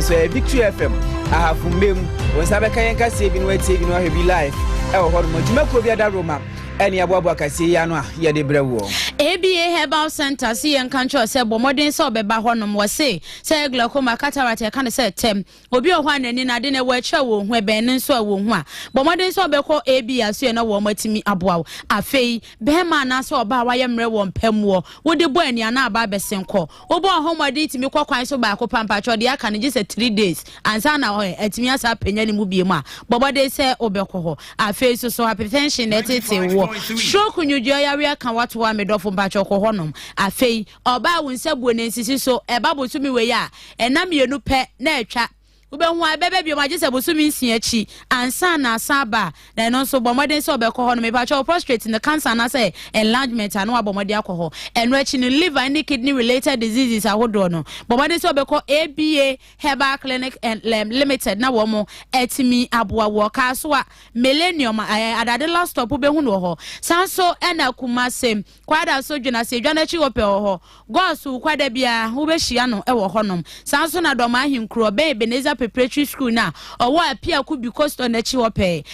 so ɛyɛ victory fm ahafo mmam wɔn nsa bɛka yɛn kaseɛ bi no atie bi no ahwɛ bi live ɛwɔ hɔ nom adwuma kuo bi ada roma ɛne aboaboa kaseɛ yi ano a yɛde brɛ woɔ aba herbal center si yɛn ka nkyerɛ sɛ bɔ mmɔden sɛ ɔbɛba hɔ nom wɔ se sɛ yɛ glaucoma cataract ɛka no sɛ tɛm obi wɔ hɔ a n'ani no ade no ɛwɔ akyerɛ wɔ ho ɛbɛn no nso ɛwɔ ho a bɔ mmɔden sɛ ɔbɛkɔ aba so yɛ na wɔn atumi aboa wo afei bɛrima anaasɛ ɔbaa wayɛ mmerɛ wɔ mpɛmuo wode bɔ aniana aba abɛsen kɔ wobɔɔ ho mmɔden tumi kɔ kwan so baako pa mpakyɛw deɛ aka no gye sɛ three days ansa na ɔɛ atumi asa apanya ne mu biemu a bɔ bɔden sɛ wobɛkɔ hɔ afei nso so hypertension na ɛtetee woɔ stroke nyodua yareɛ ka wato a medɔfo mpakyɛw kɔ hɔ nom afei ɔbaa wo nsa buo na nsisi so ɛba bosome wei a ɛna mmienu pɛ na atwa Wobɛhu a ɛbɛba biom agye sɛ bosome nsia akyi ansa na asan aba a, na ɛno nso bɔ mmɔden sɛ ɔbɛkɔ hɔ no. Mepakyɛ wo prostate no cancer anaasɛ enlargement a na wabɔ mmɔden akɔ hɔ. Ɛno akyi no liver ne kidney related diseases ahodoɔ no bɔ mmɔden sɛ ɔbɛkɔ ABA Herbal Clinic Limited na wɔn atumi aboa wo. Ɔkaa so a Millennium, Adade Last Stop wobɛhu no wɔ hɔ. San so ɛna Kumase Kwada so dwena sɛ edwa no akyi hɔ pɛ wɔ hɔ. Gɔɔ so kwada biara wobɛhyia no wɔ hɔnom. Saa nso na Dɔm Ahenkuro, ɔbɛn Ebenezer Preparatory School no a ɔwɔ Apiaku Biko Store no akyi hɔ pɛɛ.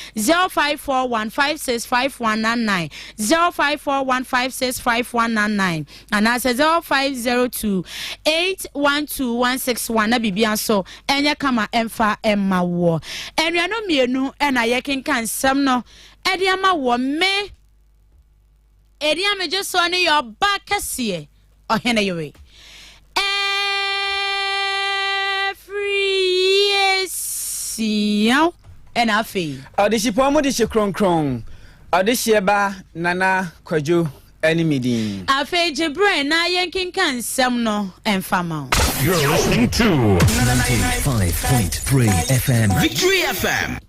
0541 565199, 0541 565199 anaasɛ 0502 812161 na biribia nso ɛnyɛ kama ɛmfa ɛmma woɔ. Anuanom mmienu na yɛkenka nsɛm no ɛde ama woɔ. Me Edi a megye soɔ no yɛ ɔbaa kɛseɛ, ɔhene yere. Ɛfiriesia ɛna afei. Ɔdehyepɔn mu dehye kronkron. Ɔdehyeɛ ba Nana Kwadwo ɛne me din. Afei gye berɛ na yɛnkenka nsɛm no mfa ma wo. You're listening to 95.3 FM. Victory FM.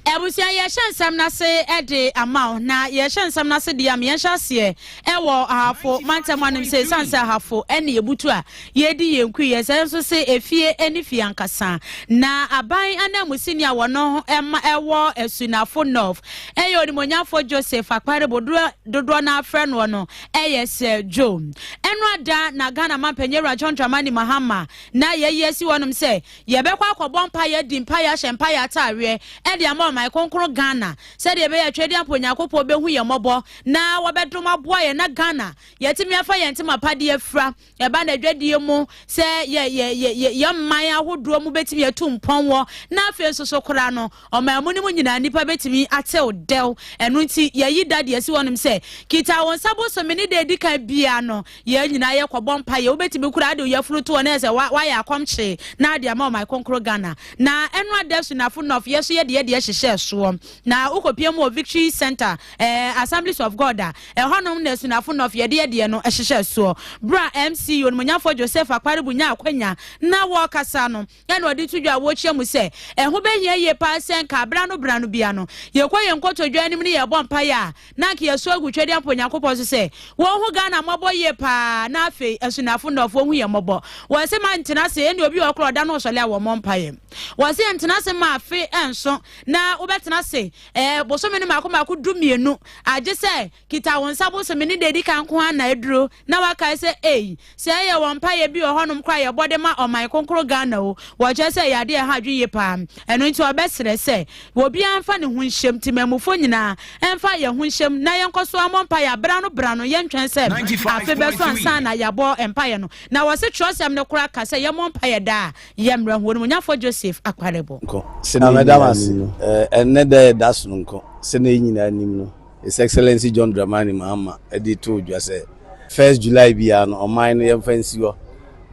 Abusua, yɛrehyɛ nsɛm no ase de ama wo, na yɛrehyɛ nsɛm no ase de ama yɛnhyɛ aseɛ wɔ ahafo mantam anom sɛ ɛsiane sɛ ahafo ne yɛbutu a yɛredi yɛn kui yɛ sɛ nso sɛ efie ne fie ankasa na aban ananmusini a wɔno ma ɛwɔ asunafo nɔf ɛyɛ onimonyafo Joseph Akpare bodoɔ dodoɔ no afrɛ noɔ no ɛyɛ sɛ dwo ɛno ada na Ghana mampanyin awura John Dramani Mahama na yɛyi asi wɔnom sɛ Yɛbɛkɔ akɔbɔ mpaeɛ, adi mpaeɛ, ahyɛ mpaeɛ ataareɛ de ama ɔman kronkron Ghana sɛdeɛ ɛbɛyɛ a Twedeɛmpo Onyankopɔn bɛhu yɛn mmɔbɔ na wɔbɛdom aboa yɛn na Ghana yɛatumi afa yɛn ntoma pa de afira ɛba N'adwadie mu sɛ yɛ, yɛ, yɛ, yɛ, yɛ man ahodoɔ mu bɛtumi atu mpɔn wɔ na afei nso so koraa no Ɔman mu no mu nyinaa nnipa betumi atew dɛw. Ɛno nti, yɛayi da de asi hɔnom sɛ, Kita wo nsa bosome ne da a edi kan biara no, yɛn nyinaa yɛkɔbɔ mpaeɛ. Wobetumi koraa de wo yafunu to hɔ na ayɛ sɛ woayɛ akɔmkyee na wode ama Ɔman Kronkron Ghana. Na ɛno ada so nnafo nnɔf, yɛn nso yɛde yɛn deɛ hyehyɛɛ soɔ. Na wokɔpia mu wɔ Victory Centre, ɛɛ, Assemblies of God a, ɛhɔnom na nnafo nnɔf yɛde yɛn deɛ no hyehyɛɛ soɔ. Berɛ a MC Onimonyamfoɔ Joseph Akparibu nyaa akwanya na wɔrekasa no, Yɛn na ɔde to dwa a wɔkyia mu sɛ, Ɛho bɛhia yie paa sɛ anka berɛ ano berɛ ano biara no, yɛkɔ yɛn nkotodwe anim ne yɛrebɔ mpaeɛ a, na anka yɛso agu twɛdeɛ ampa Onyankopɔn so sɛ Ɔnhu Ghana mmɔbɔ yie paa na afei nso Nnafo nnɔfoɔ nhu yɛn mmɔbɔ. Wɔse ma ntena ase, ɛnneɛ obi wɔ hɔ koraa ɔda no ɔsɔle a wɔmmɔ mpaeɛ. Wɔse yɛn ntena ase ma afe nso na wobɛtena ase, ɛɛ, bosome no mmaako mmaako du mmienu, agye sɛ Kita wo nsa bosome no da edi kan nko ara na aduro na wakae sɛ ei sɛ ɛyɛ wɔn mpaeɛ bi wɔ hɔnom koraa a yɛbɔ de ma ɔman kronkron Ghana o wɔkyerɛ sɛ ɛyɛ adeɛ a ɛha adwene yie paa ɛno nti ɔbɛsrɛ sɛ obiara mfa ne ho nhyɛm temammufoɔ nyinaa ɛmfa yɛn ho nhyɛm na yɛnkɔ so mmɔ mpaeɛ berɛ ano berɛ ano yɛntwɛn sɛ afe bɛso ansa na yɛabɔ mpaeɛ no na wɔse twerɛsɛm no koraa ka sɛ yɛmmɔ mpaeɛ daa a yɛmmerɛ ho Onimonyamfoɔ Joseph Akpalebo. Nko, sɛnea yɛn nyinaa nim no. Ɛnnɛ da a yɛda so no nko, sɛnea yɛn nyinaa nim no. His Excellency John Dramani Mahama de too dwa sɛ, First July biara no, ɔman no yɛmfa nsi hɔ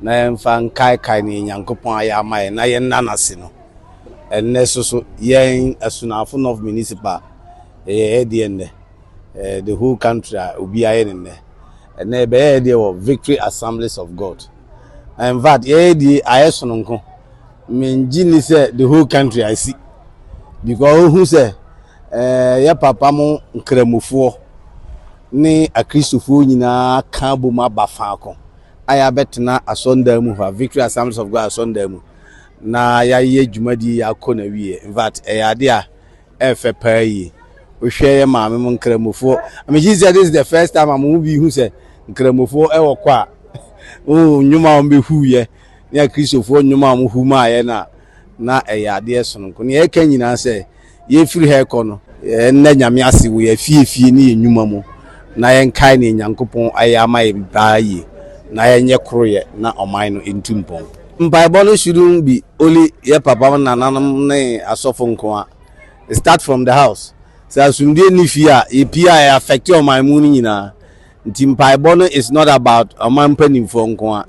na yɛmfa nkaekae nea Nyankopɔn ayɛ ama yɛn na yɛnna no ase no. Ɛnnɛ nso so, yɛn Asunafo North Municipal, yɛyɛ yɛn deɛ nnɛ. Eh, the whole country a, obiara yɛ ne nnɛ. Ɛnnɛ yɛbɛyɛ yɛn deɛ wɔ Victory Assemblies of God. In fact, yɛyɛ deɛ ayɛ sononko. Mengye nni sɛ the whole country asi because wohu sɛ Yɛ papa mo Nkramofoɔ ne Akristofoɔ nyinaa ka abom aba faako a yɛabɛtena asɔndan mu ha, Victory Assemblies of God asɔndan mu, na yɛayɛ dwumadie yi akɔ na wie. In fact, ɛyɛ ade a ɛfɛ paa yie. Wohwɛ yɛ maame mo Nkramofoɔ. I mean, she said this is the first time a mo mu bi hu sɛ Nkramofoɔ ɛwɔ kɔ a oh, nnwom a wɔbɛhuiɛ ne Akristofoɔ nnwom a wɔhu maaeɛ no a na ɛyɛ adeɛ sononko. Nea ɛka nyinaa sɛ Yɛrefiri ha rekɔ no, yɛnna Nyame ase wɔ yɛn afiefie ne yɛn nnwuma mu na yɛnkae nea Nyankopɔn ayɛ ama yɛn daa yie na yɛnyɛ koroyɛ na ɔman no ntu mpɔn. Mpaebɔ no shouldn't be only yɛn papanom, nananom ne asɔfo nkoa, it start from the house. Sɛ asomdwoe nni fie a, yɛpue a ɛ affect ɔman mu no nyinaa. Nti mpaebɔ no is not about ɔman mpanimfoɔ nko ara.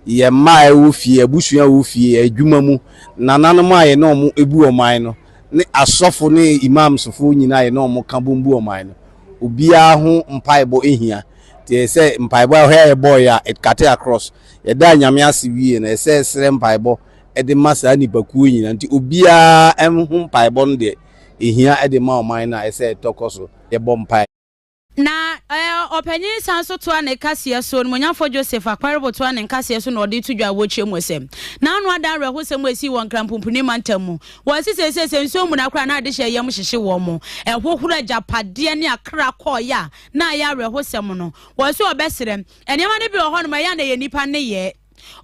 Yɛn mma a ɛwɔ fie, abusua a ɛwɔ fie, adwuma mu, nananom a yɛne wɔn bu ɔman no, ne asɔfo ne imamsfoɔ nyinaa a yɛne wɔn ka bom bu ɔman no, obiara ho mpaebɔ hia. Nti ɛyɛ sɛ mpaebɔ a ɛhɔ a yɛbɔeɛ a, it cutter across. Yɛdaa Nyame ase wiee no, ɛyɛ sɛ yɛsrɛ mpaebɔ de ma saa nnipakuo nyinaa. Nti obiara ho mpaebɔ no deɛ, ɛhia de ma ɔman no a ɛsɛ ɛtɔ kɔ so, yɛbɔ mpae. Na ɔpanyin san so toa ne kaseɛ so, Onimonyamfoɔ Joseph Akparibo toa ne nkaseɛ so na ɔde to dwa wɔ kyerɛ mu sɛ, n'ano ada awerɛhosɛm a ɛsii wɔ Nkranpumpuni mantam mu. Wɔse seesei sɛ nsuo mmuna koraa na adehyɛ yam hyehye wɔn mo, ɛhohoro agyapadeɛ ne akra kɔɔeɛ a na ayɛ awerɛhosɛm no. Wɔse wɔbɛsrɛ. Nneɛma no bi wɔ hɔnom a ɛyɛ a na ɛyɛ nnipa nneyɛɛ.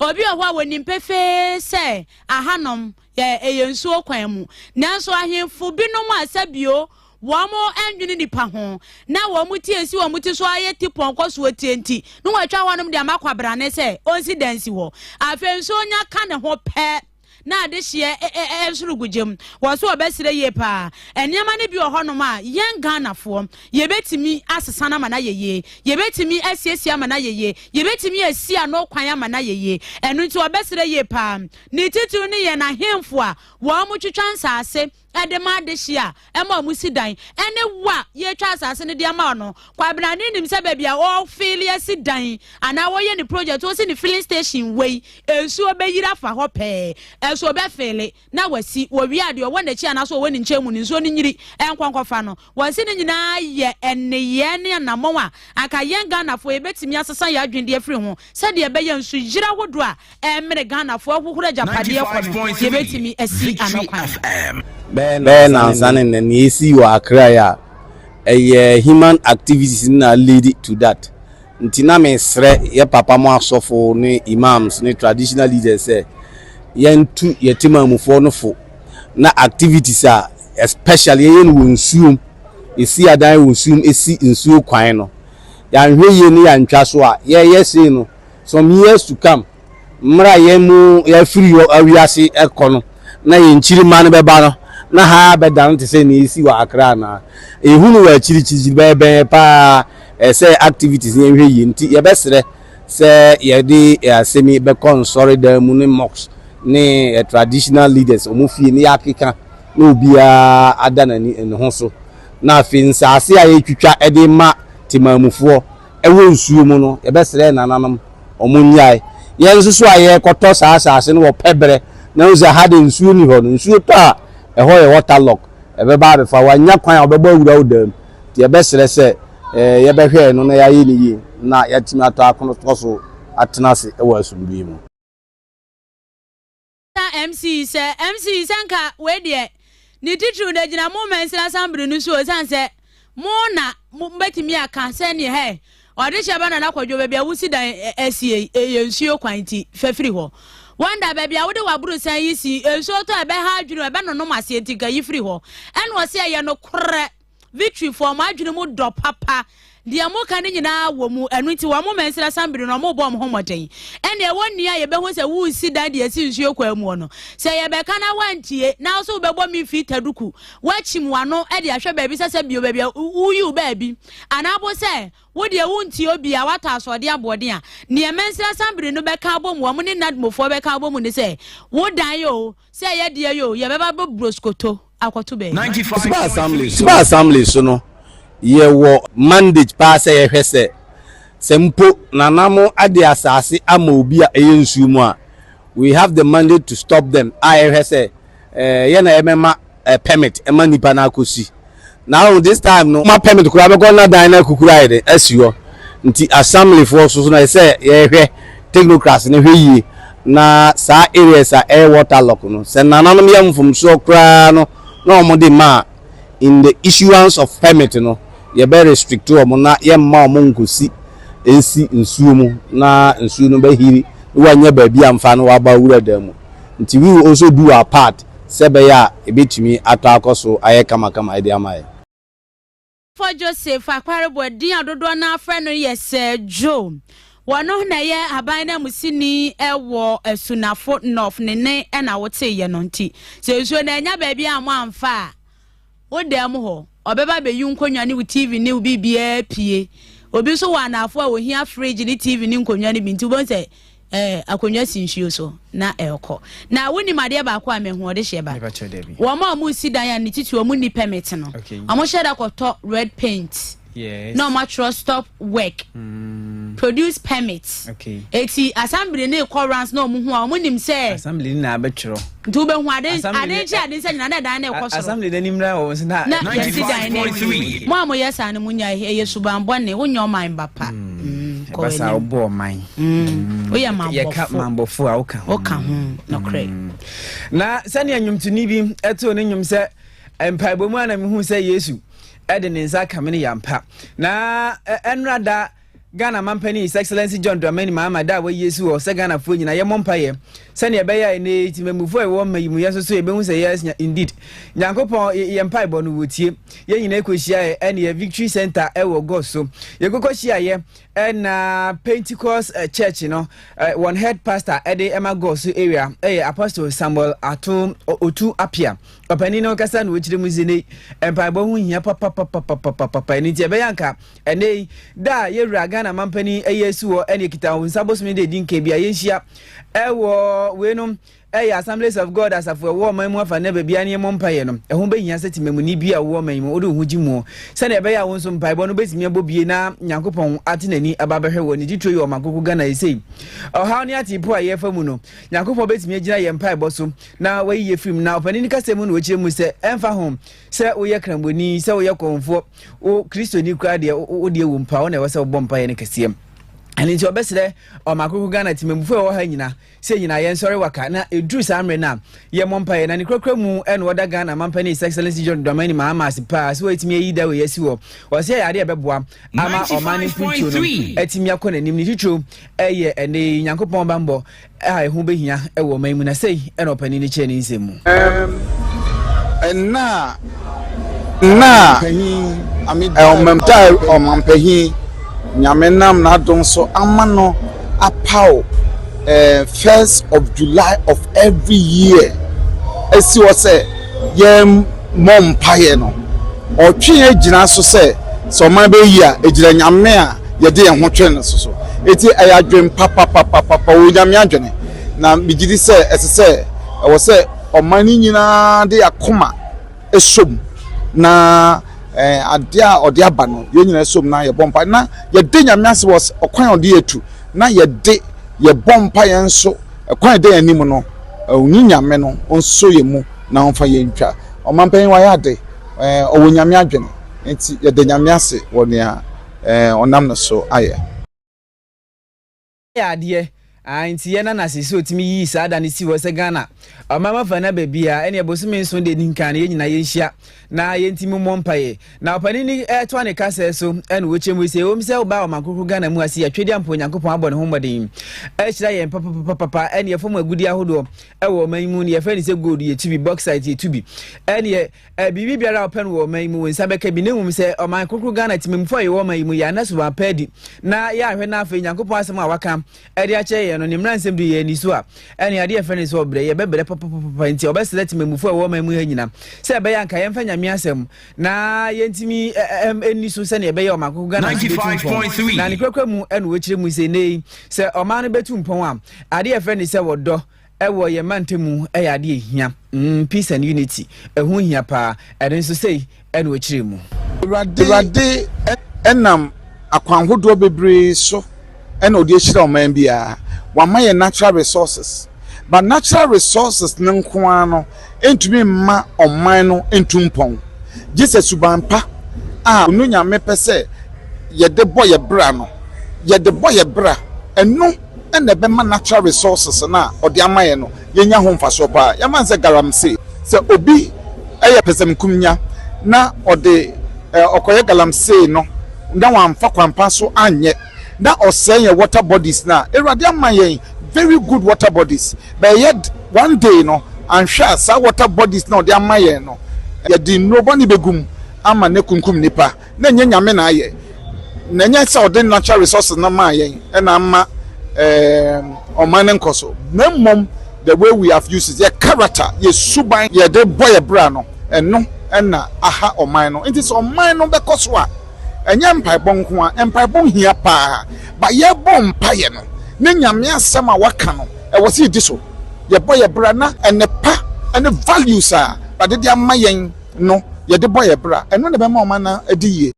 Obi wɔ hɔ a wɔnim pefee sɛ ahanom Yɛ ɛyɛ nsuo kwan mu. Nanso ahemfo binom a sɛ bio wɔn nnwene nnipa ho na wɔn ti esi wɔn ti so ayɛ ti pɔnkɔ so atie nti na wɔatwa hɔnom de ama kwabrane sɛ ɔnsi dan si hɔ. Afei nso nya ka ne ho pɛ na adehyeɛ e, e, e, nso regu gya mu. Wɔ so ɔbɛsrɛ yie paa. Nneɛma no bi wɔ hɔnom a yɛn Ghanafoɔ yɛbɛtumi asesa no ama no ayɛ yie. Yɛbɛtumi asiesie ama no ayɛ yie. Yɛbɛtumi asi ano kwan ama no ayɛ yie. Ɛno nti ɔbɛsrɛ yie paa Ne titiriw no yɛn ahemfo a wɔtwitwa nsase de ma adehye a ɛma wɔsi dan, ne wo a yɛretwa asase no de ama wo no. Kwabena no nim sɛ baabi a ɔfeeli asi dan anaa wɔyɛ ne project, wɔsi ne filling station wei, nsuo bɛyiri afa hɔ pɛɛ. Ɛso ɔbɛfeeli na wasi, wɔwie a deɛ ɔwɔ n'akyi anaa so ɔwɔ ne nkyɛn mu no, nsuo no nyiri nkɔ nkɔfa no. Wɔse ne nyinaa yɛ nneyɛɛ ne anammɔn a anka yɛn Ghanafoɔ yɛbɛtumi asesa yɛn adwene de afiri ho sɛdeɛ ɛbɛyɛ nsuyire ahodoɔ a ɛremene Ghanafoɔ ahohoro agyapadeɛ kɔ no yɛbɛtumi asi ano kwan. Bɛyɛ nnansa ne nnɛ, nea esii wɔ Accra yi a, ɛyɛ human activities no na a lead to that. Nti na mesrɛ yɛ papa mo asɔfo ne Imams ne traditional leaders sɛ yɛntu yɛ Temamufoɔ no fo na activities a especially yɛyɛ no wɔ nsuo mu, yɛsi adan wɔ nsuo mu, ɛsi nsuo kwan no, yɛanhwɛ yie ne yɛantwa so a, yɛyɛ sei no, some years to come, mmerɛ a yɛn mu yɛafiri hɔ awiase ɛkɔ no, na yɛn nkyirimma no bɛba no, na ha abɛdane te sɛ nea ɛsi wɔ Accra anaa? Yɛhu no wɔ akyirikyirikyiri, bɛyɛ bɛn yɛ paa, ɛsɛ activities no yɛnhwɛ yie, nti yɛbɛsrɛ. Sɛ yɛde yɛn asɛm yi bɛkɔ nsɔredan mu ne mosque ne yɛn traditional leaders wɔn fie na yɛakeka na obiara ada n'ani ne ho so na afei nsaase a yɛretwitwa de rema Temanmufoɔ wɔ nsuo mu no yɛbɛsrɛ yɛn nananom wɔn nnyae. Yɛn nso so a yɛrekɔtɔ saa asaase no wɔ pɛ berɛ na yɛhu sɛ ha deɛ nsuo nni hɔ no, nsuo tɔ a ɛhɔ yɛ water lock ɛbɛba abɛfa wo, annya kwan a wɔbɛbɔ awura wo dan mu nti yɛbɛsrɛ sɛ eh, yɛbɛhwɛ no na yɛayɛ no yie na yɛatumi atɔ akono tɔ so atena ase wɔ asomdwoe mu. MC sɛ MC sɛ nka wei deɛ ne titiriw no gyina mo mansini asambere no so ɛsiane sɛ mo na mobɛtumi aka sɛ neɛ hɛ ɔdehyɛ ba nana kɔdwo baabi a wosi dan asie ɛyɛ nsuo kwan nti fa firi hɔ wanda baabi a wode w'aborosan yi si nsuo tɔ ɛbɛha adwene ɛbɛnonom aseɛ nti ka yi firi hɔ ɛna ɔse ɛyɛ nokorɛ Victory foɔ, wɔn adwene mu dɔ papa. Deɛ moka no nyinaa wɔ mu. Ɛno nti wɔn mɛnsrɛ asan biri no, wɔrebɔ wɔn ho mmɔden. Ɛnna ɛwɔ nni a yɛbɛhu sɛ woresi dan de asi nsuo kwan muo no. Sɛ yɛbɛka na woantie, na wo nso wobɛbɔ me mfiri taduku, woakyim w'ano de ahwɛ baabi sɛ sɛ bio baabi a woyi wo baabi, anaa mpo sɛ wo deɛ wontie obiara, woatɔ asoɔden aboɔden a, deɛ mɛnsrɛ asan biri no bɛka abɔ mu, wɔn ne NADMO foɔ bɛka abɔ mu ne sɛ, Wo dan o, Sɛ ɛyɛ deɛ yoo, yɛbɛba bɛ broskoto akɔto bɛ. Suba Assembly so. Suba Assembly so no, yɛwɔ. Mandate paa sɛ yɛhwɛ sɛ, sɛ mpo Nana mo ade asase ama obi a ɛyɛ nsuo mu a, we have the mandate to stop them a yɛhwɛ sɛ, eh, yɛn na yɛbɛma. eh, permit ma nipa no akosi na ɔn this time no ma permit koraa bɛkɔ na dan no akukuru ayɛ dɛ asi hɔ nti assemblyfoɔ so so na ɛsɛ yɛhwɛ technocrats no hwɛ yie na saa areas a ɛyɛ waterlock no sɛ nananom yɛ mfomsoɔ koraa no na wɔn de ma in the issuance of permit no yɛbɛ restrict wɔn na yɛmma wɔn nkosi nsi nsuo mu na nsuo no bɛhiri na wanya baabi amfa no waba wura dan mu. Nti Will also do her part sɛ ɛbɛyɛ a ɛbɛtumi atɔ akɔ so ayɛ kamakama de ama yɛn. For Joseph Akparibo a din a dodoɔ no ara frɛ no yɛ sɛ Djo. Ɔno na ɛyɛ aban nanmusini wɔ Asunafo North, ne nne na woteeɛ no. Nti sɛ nsuo no annya baabi ammɔ amfa a, Wo dan mu hɔ, ɔbɛba abeyi wo nkonnwa ne wo TV ne wo biribiara apue. Obi nso wɔ anaafoɔ a wɔhia fridge ne TV ne nkonnwa no bi nti wobɛhu sɛ eh, akonnwa si nsuo so na ɛrekɔ. Na wonim adeɛ baako a mehu ɔde hyɛ ba? Wɔn a wɔsi dan a ne titi wɔn nni permit no, wɔhyɛ da kɔtɔ red paint. Yes. Na ɔmo atwerɛ stop work. Mm. Produce permit. Okay. Eti assembly ne kɔ rounds na ɔmo hu a ɔmo nim sɛ. Assembly ne na abɛtwerɛ. Nti wobɛhu ade ade nkyɛn ade nsa nyina na dan na ɛkɔ soro. Assembly na nimra wɔ wɔn na. Na yɛsi dan na ewie. Mo a mo yɛ saa no mo nya ɛyɛ subanbɔ ne wonyɛ ɔman ba pa. Mm. Mm. Basa wobɔ ɔman. Mm. Woyɛ mambɔfo. Yɛka mambɔfo a woka ho. Woka ho nɔkorɛ. Na sɛnea nnwomtoni bi ɛtoo ne nnwom sɛ mpaebɔ mu a na mehu sɛ Yesu de ne nsa aka me no yɛ ampa. Na ɛnora da Ghana mampanin His Excellency John Dramani Mahama da a wayi asi hɔ sɛ Ghanafoɔ nyinaa yɛmmɔ mpaeɛ sɛdeɛ ɛbɛyɛ a ɛnɛ yi temamufoɔ a ɛwɔ mma yi mu yɛn nso so yɛbɛhu sɛ yes indeed Nyankopɔn yɛn mpaebɔ no wɔtie yɛn nyinaa kɔhyiaeɛ ɛne yɛ Victory Center ɛwɔ gɔ so yɛkɔkɔ hyiaeɛ ɛna Pentecost eh, Church no eh, wɔn head pastor ɛde ɛma gɔ so area ɛyɛ Apostle Samuel Ato Otu Apia Ɔpanin no ankasa na ɔkyerɛ mu sɛ ne mpaebɔ ho hia papapapapapapa ɛno nti ɛbɛyɛ anka ɛnɛ yi da a yɛwura Ghana mampanin ɛyɛ asi hɔ ɛne ɛkita wo nsa bosome de adi nka bi a yɛnhyia ɛwɔ wei no ɛyɛ Assemblies of God asafo ɛwɔ ɔman mu afa nnɛ baabi a ne yɛmmɔ mpaeɛ no ɛho bɛhia sɛ temamuni bi a wowɔ ɔman yi mu wode wo ho gye muɔ sɛdeɛ ɛbɛyɛ a wo nso mpaebɔ no bɛtumi abɔ bie na Nyankopɔn ate n'ani aba bɛhwɛ wɔ ne titire yɛ ɔman koko Ghana ɛsei ɔhaw ne ateepo a yɛfa mu no Nyankopɔn bɛtumi agyina yɛn mpaebɔ so na wayi yɛ afiri mu. Na ɔpanin no kasa mu na wɔkyerɛ mu sɛ ɛmfa ho sɛ woyɛ krambɔni, sɛ woyɛ kɔmfoɔ, wo kristoni koraa deɛ wodeɛ wɔ mpa, wo na ɛwɔ sɛ wobɔ mpaeɛ no kɛseɛ. Ɛno nti ɔbɛsrɛ ɔmaakoko Ghana temamufoɔ a ɛwɔ ha nyina sɛ nyinaa yɛnsɔre waka na ɛduru saa mmerɛ no a yɛmmɔ mpaeɛ na ne kurakura mu ɛna ɔda Ghana mampani His Excellency John Dramani Mahama ase paa sɛ wɔatumi ayi da wei asi hɔ ɔsɛ yɛ adeɛ a ɛbɛboa ama ɔman no mpuntuo no atumi akɔ n'anim ne titiro ɛyɛ ɛnɛ yi Nyankopɔn bammɔ a ɛho bɛhia wɔ ɔman mu, na sei na ɔpanin no kyerɛ ne nsɛm mu. Nna a na ɔmampahin Nyame nam n'adom so ama no apaw first of July of every year asi hɔ sɛ yɛmmɔ mpaeɛ no, Ɔtwe yɛn gyina so sɛ sɛ ɔman bɛyɛ yie a, ɛgyina Nyame a yɛde yɛn ho twe no so so. Enti ɛyɛ adwene papapapapa, ɔwɔ Onyame adwene. Na megye di sɛ ɛsɛ sɛ, ɛwɔ sɛ ɔman no nyinaa de yɛn akoma som na adeɛ a ɔde aba no, yɛn nyinaa som na yɛbɔ mpaeɛ na yɛda Nyame ase wɔ ɔkwan a ɔde yɛn atu na yɛde yɛbɔ mpaeɛ nso kwan a ɛda yɛn anim no, Onyame no ɔnsɔ yɛn mu na ɔmfa yɛn ntwa. Ɔmanpanyin wayɛ ade. Ɛɛ, ɔwɔ Nyame adwene. Enti yɛda Nyame ase wɔ nea ɛɛ ɔnam no so ayɛ. Yɛ adeɛ aa nti yɛ Nana sɛ sɛ ɔtumi yii saa da no sii hɔ sɛ Ghana ɔman ma fa nna baabiaa ɛneɛ bosome nson deɛ ɛdi nkan no yɛn nyinaa yɛnhyia na yɛntimi mmɔ mpaeɛ na ɔpanin no ɛtoa ne kasɛɛ so ɛna ɔkyɛ mu sɛ ɛwom sɛ wobaa ɔman krokro Ghana mu ase yɛtwedeɛ ampa Onyankopɔn abɔ ne ho mmɔden ahyira yɛn papapapapa ɛneɛ fam agudeɛ ahodoɔ wɔ ɔman yi mu no yɛfrɛ no sɛ gold yɛtu bi bauxite yɛtu bi ɛneɛ eh, biribi biara a wopɛ no wɔ ɔman yi mu wo nsa bɛka bi na mmom sɛ ɔman kokoro ghana temamufoɔ a yɛwɔ ɔman yi mu yɛ ana so wɔapɛ adi na yɛahwɛ no afei nyankopɔn asɛm a waka ɛde akyerɛ yɛn no ne mmara nsɛm de yɛ ani so a ɛne adeɛ yɛfrɛ no sɛ ɔbrɛ yɛbɛbrɛ papapapa nti ɔbɛsrɛ temamufoɔ a ɛwɔ ɔman mu ha nyina sɛ ɛbɛyɛ anka yɛmfa nyame asɛm na yɛntumi ɛni so sɛdeɛ ɛbɛyɛ ɔman kokoro ghana so bɛtu mpɔn na ne kurakura mu ɛna wɔkyerɛ mu sɛ nnɛ yi sɛ ɔman no bɛtu mpɔn a Adeɛ a yɛfrɛ no sɛ ɔdɔ wɔ yɛn mantam mu yɛ adeɛ a ɛhia. Mm, peace and unity. Ɛho hia paa. Ɛno nso sei na ɔkyerɛɛ mu. Awurade nam akwan hodoɔ bebree so na ɔde ahyira ɔman biara. Wama yɛn natural resources. But natural resources no nko ara no ntumi mma ɔman no ntu mpɔn. Gye sɛ suban pa a ɔno Nyame pɛ sɛ yɛde bɔ yɛn bra no, yɛde bɔ yɛn bra. Ɛno na ɛbɛma natural resources no a ɔde ama yɛn no yɛanya ho mfasoɔ pa ara. Yɛmfa no sɛ galamsey, sɛ obi yɛ pɛsɛmenkomenya na ɔde ɔkɔyɛ galamsey no na wamfa kwan pa so anyɛ na ɔsɛe yɛn water bodies no a, Awurade ama yɛn very good water bodies, but ɛyɛ one day no anhwɛ a saa water bodies no a ɔde ama yɛn no yɛde nnuro bɔne bɛgu mu ama no akunkum nnipa. na ɛnyɛ Nyame na ayɛ, na ɛnyɛ sɛ ɔde natural resources no maa yɛn na ama ɛɛm ɔman no nkɔso, na mmom the way we have used it, yɛ character, yɛ suban, yɛde bɔ yɛ bra no, ɛno na aha ɔman no. Nti sɛ ɔman no bɛkɔ so a, ɛnyɛ mpaebɔ nko ara, mpaebɔ hia paa, but yɛbɔ mpaeɛ no ne Nyame asɛm a waka no, ɛwɔ sɛ yɛdi so, yɛbɔ yɛ bra na nnepa ne values a Awurade de ama yɛn, no, yɛde bɔ yɛn bra. Ɛno na ɛbɛma ɔman no adi yie.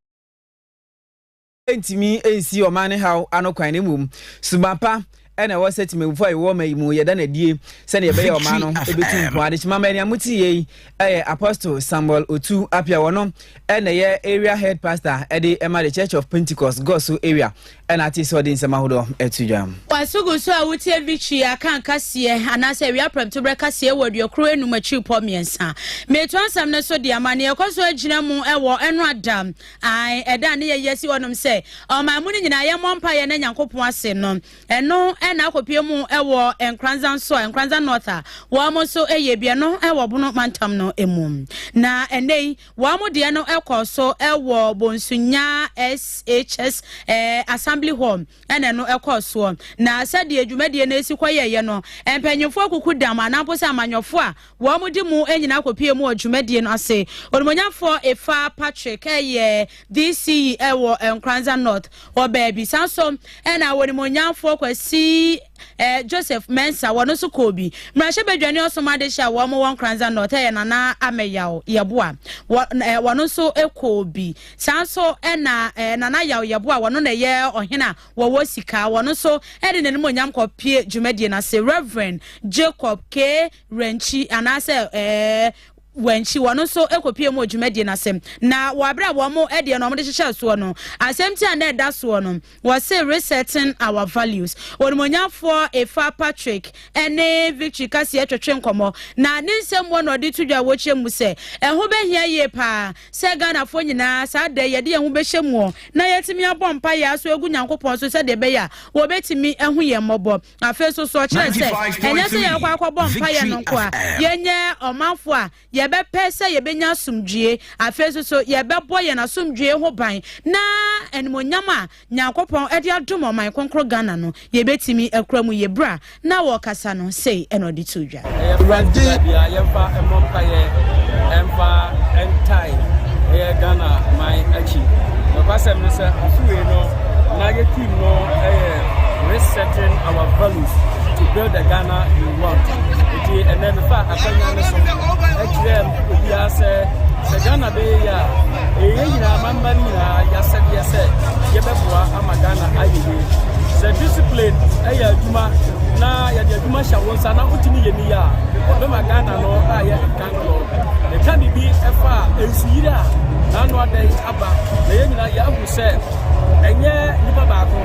Ntumi nsi ɔman no haw ano kwan, na mmom suban pa na ɛwɔ sɛ temamufoɔ a yɛwɔ ɔman yi mu yɛda no adie sɛdeɛ ɛbɛyɛ ɔman no ɛbɛtu mpɔn. Adekyema mma nea mote yei ɛyɛ Apostle Samuel Otu Appiah, wɔno ɛna ɛyɛ Area Head Pastor ɛde ɛma the Church of Pentecost Gɔso Area Ɛna te sɛ ɔde nsɛm ahodoɔ to dwam. W'asogu so a woteɛ bi twi aka nkaseɛ anaasɛ awia prɛmtoberɛ kaseɛ wɔ aduokron anum akyiripɔ mmiɛnsa. Meto asɛm no so de ama nea ɛkɔ so agyina mu wɔ ɛno ada. Ae, ɛda a ne yɛyi asi hɔnom sɛ ɔman mu no nyinaa yɛmmɔ mpaeɛ na Nyankopɔn ase no. Ɛno na akɔpie mu wɔ Nkranza nso a, Nkranza North a wɔn nso yɛ bi, ɛno wɔ Bono mantam no mu. Na ɛnnɛ yi, Wɔn deɛ no kɔɔ so wɔ Bonsunya SHS Assembly Hall na ɛno kɔɔ soɔ. Na sɛdeɛ dwumadie no si kɔyɛeɛ no, mpanyimfoɔ akukudam anaa mpo sɛ amanyɔfoɔ a wɔdi mu nyinaa kɔpuee mu wɔ dwumadie no ase. Onimonyamfoɔ Efa Patrick yɛ DCE wɔ Nkoranza North hɔ baabi. Saa nso na Onimonyamfoɔ Kwasi. Eh, Joseph Mensah, wɔno nso kɔɔ bi. Mmarahyɛ Badwa ne Ɔsom Adehye a wɔn wɔ Nkranza North, ɛyɛ Nana Ameyaw Yɛboa, wɔno nso kɔɔ bi. Saa nso na eh, Nana Yaw Yɛboa, wɔno na ɛyɛ ɔhene a wɔwɔ sika, wɔno nso de n'anim onyam kɔpie dwumadie no ase. Reverend Jacob K. Renkyi, anaasɛ eh, wɔn akyi, wɔn nso kɔpie mu wɔ dwumadie no ase. Na wɔ aberɛ a wɔn deɛ no wɔn de hyehyɛ soɔ no, asɛm ti a na ɛda soɔ no, wɔse Resetting Our Values. Onimuonyafoɔ Efa Patrick ne Victory Kaseɛ twetwe nkɔmmɔ, na ne nsɛm mu na ɔde to dwa wɔ kyerɛ mu sɛ, ɛho bɛhia yie paa sɛ Ghanafoɔ nyinaa saa da yi yɛde yɛn ho bɛhyɛ muɔ na yɛatumi abɔ mpaeɛ aso agu Nyankopɔn so sɛdeɛ ɛbɛyɛ a wɔbɛtumi ahu yɛn mmɔbɔ. Afei nso, so ɔkyerɛ sɛ ɛnyɛ sɛ yɛrekɔ akɔbɔ mpaeɛ no nko a, yɛnyɛ ɔmanfo a yɛbɛpɛ sɛ yɛbɛnya asomdwie. Afei nso, so yɛbɛbɔ yɛn asomdwie ho ban na animonyam a Nyankopɔn de adom ɔman kronkron Ghana no, yɛbɛtumi akura mu yie. Berɛ a na wɔrekasa no, sei na ɔde too da. Awurade bia yɛmfa mmɔ mpaeɛ ɛmfa ntae ɛyɛ Ghana man akyi nokwasɛm ne sɛ afe wei no na yɛ team no ɛyɛ resetting our values to build the Ghana we want nti ɛnɛ mefa akwannya no so ɛkyerɛ obiara sɛ sɛ Ghana bɛyɛ yɛ a ɛyɛ nyinaa mamba no nyinaa yɛasɛdeɛ sɛ yɛbɛboa ama Ghana ayɛ yie sɛ discipline ɛyɛ adwuma na yɛde adwuma hyɛ wo nsa na wotumi yɛ ni a, bɛma Ghana no ayɛ nkankoro. Yɛka biribi ɛfa a nsuyiri a n'ano adɛn aba na yɛn nyinaa yɛahu sɛ ɛnyɛ nipa baako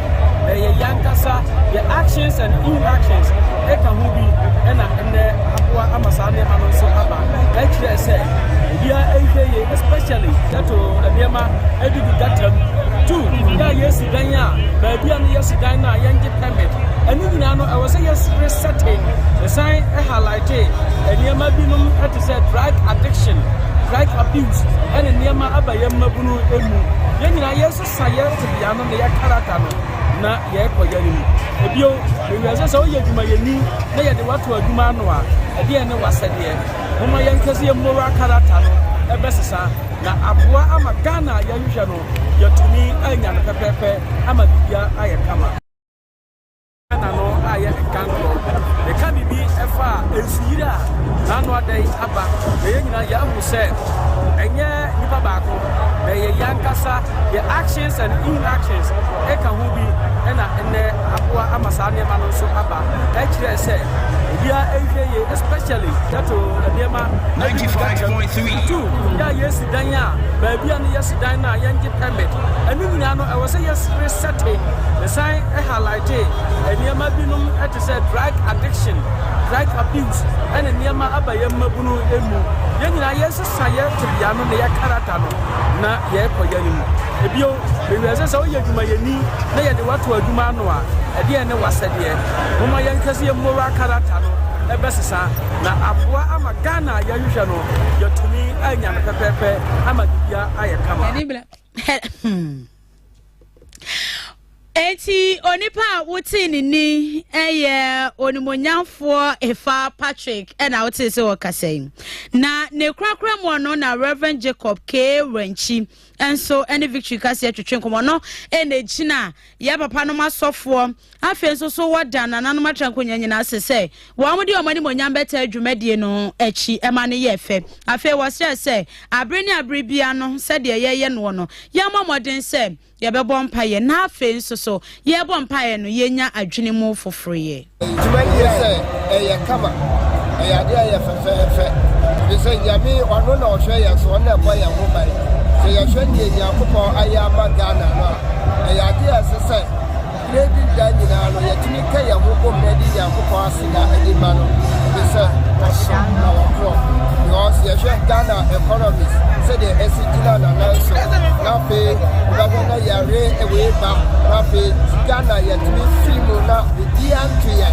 na ɛyɛ yankasa yɛ actions and inactions ɛka ho bi ɛna ɛnɛ aboa ama saa nneɛma no nso aba ɛkyerɛ sɛ obiara ɛnhwɛ yie especially ghetto nneɛma ɛdidi gata mu two yɛ a yɛsi dan a baabi a no yɛsi dan no a yɛngye pɛ Ɛno nyinaa no, ɛwɔ sɛ yɛsere sɛte. Ɛsan halaete nneɛma binom te sɛ drug addiction, drug abuse, ɛne nneɛma aba yɛn mmabunu mu. Yɛn nyinaa yɛsesa yɛn tebea no ne yɛn karata no na yɛrekɔ yɛn anim. Ebio, mewia sɛ sɛ woyɛ adwumayɛni na yɛde wato adwuma ano a, ɛdeɛ ne wasɛdeɛ. Momma yɛnka sɛ yɛn moral karata no ɛbɛsesa na aboa ama Ghana a yɛhwehwɛ no yɛatumi anya no pɛpɛɛpɛ ama biribiara ayɛ kama. Ghana no ayɛ nkankorɔ. Yɛka biribi ɛfa nsuyiri a n'ano ada yi aba na yɛn nyinaa yɛahu sɛ ɛnyɛ nipa baako na ɛyɛ yɛn ankasa yɛ actions and inactions ɛka ho bi ɛna ɛnɛ aboa ama saa nneɛma no nso aba ɛkyerɛ sɛ obiara ɛnhwɛ yie especially yɛto nneɛma 95.3. Yɛ a yɛresi dan a, baabi a no yɛsi dan no a yɛngye permit, ɛno nyinaa no ɛwɔ sɛ yɛs re setting. Mesan highlightee nneɛma binom te sɛ drug addiction, drug abuse ɛne nneɛma aba yɛn mmabunu mu. Yɛn nyinaa yɛresesa yɛn tebea no ne yɛn karata no na yɛrekɔ yɛn anim. Ebio, mewie sɛ sɛ woyɛ adwumayɛni na yɛde wato adwuma ano a, ɛdeɛn ne wasɛdeɛ? Momma yɛnhwɛ sɛ yɛn moral karata no ɛbɛsesa. Na aboa ama Ghana a yɛhwehwɛ no yɛatumi anya no pɛpɛɛpɛ ama biribia ayɛ kama. Hmm. Eti onipa a wote ne ni yɛ onimonyamfoɔ Efa Patrick na wote sɛ ɔkasa yi. Na ne korakora mu no na Reverend Jacob K. Rankyi nso ne victory kaseɛ twetwe nkɔmmɔ no ɛna ɛgyina yɛ papa nom asɔfoɔ afei nso so wɔda nananom atra nkonnwa nyinaa ase sɛ wɔn de wɔn anim onyam bɛtaa dwumadie no akyi ɛma no yɛ fɛ afei wɔsrɛ sɛ abere ne abere bia no sɛdeɛ yɛyɛ noɔ no yɛmmɔ mmɔden sɛ yɛbɛbɔ mpaeɛ na afei nso so yɛbɔ mpaeɛ no yɛnya adwene mu foforoyɛ Dwuma no yɛ sɛ ɛyɛ kama, ɛyɛ adeɛ a ɛyɛ fɛfɛɛfɛ, ɛfiri sɛ Nyame ɔno na ɔhwɛ yɛn so, ɔno na ɛbɔ yɛn ho ban. Sɛ yɛhwɛ deɛ Nyankopɔn ayɛ ama Ghana no a, ɛyɛ adeɛ a ɛsɛ sɛ berɛ bi da nyinaa no yɛtumi ka yɛn ho bom na ɛde Nyankopɔn aseda ɛde ma no, ɛfiri sɛ ɔsɔ na ɔkorɔ. Because yɛhwɛ Ghana economies sɛdeɛ ɛsi gyina na nan so, na afei wobɛhwɛ na yɛre wei ba, na afei Ghana yɛ Emi fii mu na biribiara ntoeɛ,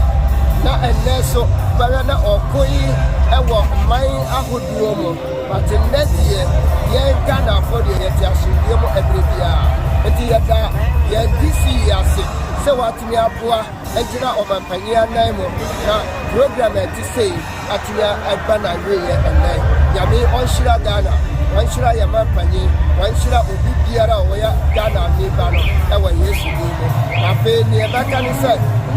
na ɛnnɛ nso bɛyɛ na ɔko yi wɔ man ahodoɔ mu, but nnɛ deɛ yɛn Ghanafoɔ deɛ yɛte asomdwoeɛ mu ɛberɛ biara. Nti yɛda yɛn DC yi ase sɛ watumi aboa agyina ɔmampanyin anan mu na program a ɛte sei atua ɛba na awieɛ ɛnnɛ nyame ɔnhyira Ghana ɔnhyira yɛ ma mpanyin ɔnhyira obi biara a ɔyɛ Ghana ni ba no ɛwɔ Yesu din mu na afei neɛ bɛka ne sɛ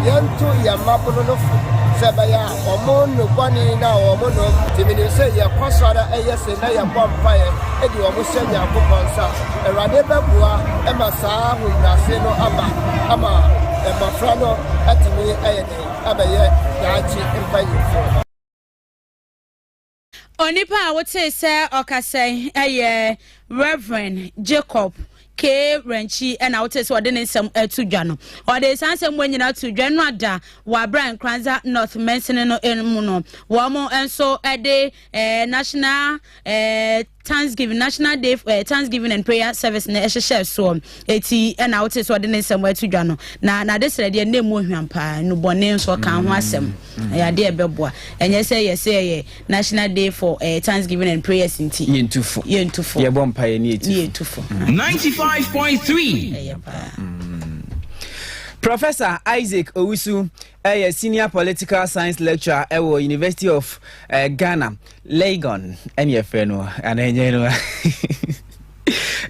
yɛnto yɛ mmabono no fo sɛ ɛbɛyɛ a ɔmo no bɔne na ɔmo no tumi ne sɛ yɛkɔ so ara ɛyɛ se na yɛbɔ mpaeɛ ɛdi ɔmo hyɛ Nyankopɔn nsa Awurade bɛboa ɛma saa ahobrɛase no aba ama mmɔfra no atumi ɛyɛ abɛyɛ daakye mpanyimfo. Onipa a wotee sɛ ɔkasa yi yɛ Rev. Jacob K. Rankyi na wotee sɛ ɔde ne nsɛm ato dwa no. Ɔde saa nsɛm mu nyinaa to dwa no ada wɔ abira Nkranza North mansini no mu no. Wɔn nso de eh, National eh, Thanksgiving National Day uh, Thanksgiving and Prayer Service na ɛhyehyɛ soɔ eti ɛna wote sɛ ɔde ne nsɛm ɛto dwa no na n'ade srɛ deɛ ne mu ohwam paa nubɔne nso ɔka ho asɛm mm-hmm. ɛyɛ adeɛ ɛbɛboa ɛnyɛ sɛ yɛ sɛ ɛyɛ National Day for uh, Thanksgiving and Prayers nti yɛntufo yɛntufo yɛbɔ mpa yɛ ne yɛtufo. Mm-hmm. ninety five point three. ɛyɛ paa. Mm-hmm. Professor Isaac Owusu Ɛyɛ Senior Political Science Lecturer ɛwɔ University of uh, Ghana, Legon, ɛne ɛfrɛ no, anaa ɛnyɛ no.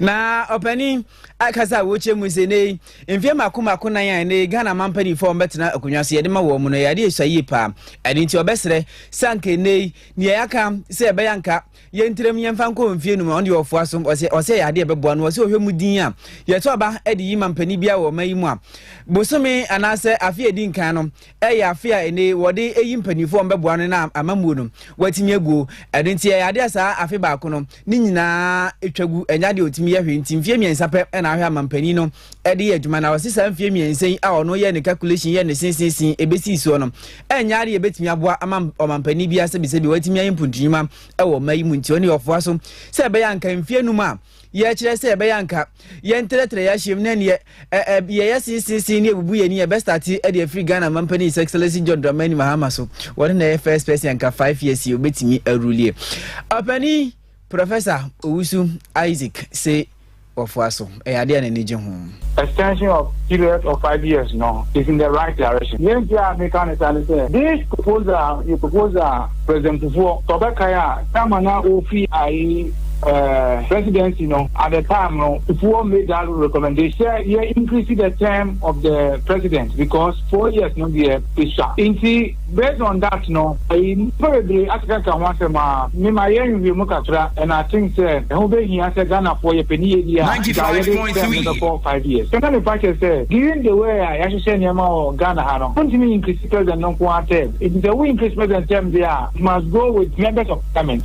na ɔpanin akasa a wɔkyɛ mu sɛ ne mfeɛ mako mako nan a ne ghana ma mpanimfoɔ wɔbɛtena akonnwa so yɛde ma wɔn mu no yɛade ɛhyɛ yie paa ɛno nti ɔbɛserɛ sɛ anka ɛnɛ yi neɛ yɛaka sɛ ɛbɛyɛ anka Yɛn tirim yɛn fa nkɔ mfie num a ɔno deɛ ɔfoa so ɔsɛ ɔsɛ yɛ adeɛ ɛbɛboa no ɔsɛ ɔhwɛ mu din a yɛto aba ɛde yi ma mpanin biara wɔ ɔman yi mu a bosome anaasɛ afe a ɛdi nkan no ɛyɛ afe a ɛne wɔde ɛyi mpanimfoɔ wɔn bɛboa no na amammuo no wɔatumi aguo ɛno nti ɛyɛ adeɛ a saa afe baako no ne nyinaa ɛtwa gu ɛnyɛ adeɛ ɔtumi yɛ hwee nti mfie mmiɛnsa pɛ ɛna ahwɛ ama mpanin no ɛde yɛ adwuma na ɔse saa mfie mmiɛnsa yi a ɔno yɛ ne calculation yɛ ne sinsinsin ɛbɛsii soɔ no ɛnyɛ adeɛ ɛbɛtumi aboa ama ɔmampanin biara sɛbisɛbi watumi ayɛ mpuntunwuma wɔ mma yi mu nti ɔne ɔfoa so sɛ ɛbɛyɛ anka mfie num a yɛkyerɛ sɛ ɛbɛyɛ anka yɛntrɛtrɛ yɛahyɛm ne neɛ yɛyɛ sinsinsin ne ɛbubu yɛni yɛbɛstate ɛde afiri ghana mampanin sɛ excellence john dramani mahama so wɔne na ɛyɛ first person anka five years yi ɔbɛtumi arulie ɔpani Prɔfɛsa Owusu Isaac se wɔfoa so, ɛyɛ adeɛ a n'ani gye ho. Extension of period of five years no is in the right direction. Deɛ nti a meka no saa ne sɛ, this proposal yɛ proposal a President Kufuor, sɛ ɔbɛkae a, time no a ɔrefi ae presidency no, at the time no, Kufuor made that recommendation sɛ yɛ increase the term of the president because four years no deɛ esua. Nti. Based on that no, nnipa bebree akekaka ho asɛm a, me ma yɛn nhwehwɛ mu kakra and I think sɛ ɛho bɛhia sɛ Ghanafoɔ yɛpɛ ne yie deɛ a, nka yɛde term no bɛkɔ five years. Sɛ na mepa kyɛ sɛ, given the way a yɛahyehyɛ nneɛma wɔ Ghana ha no, wontumi nyinkirisi President no nko ara term. Nti sɛ wo yinkirisi President term deɛ a, it must go with members of Parliament.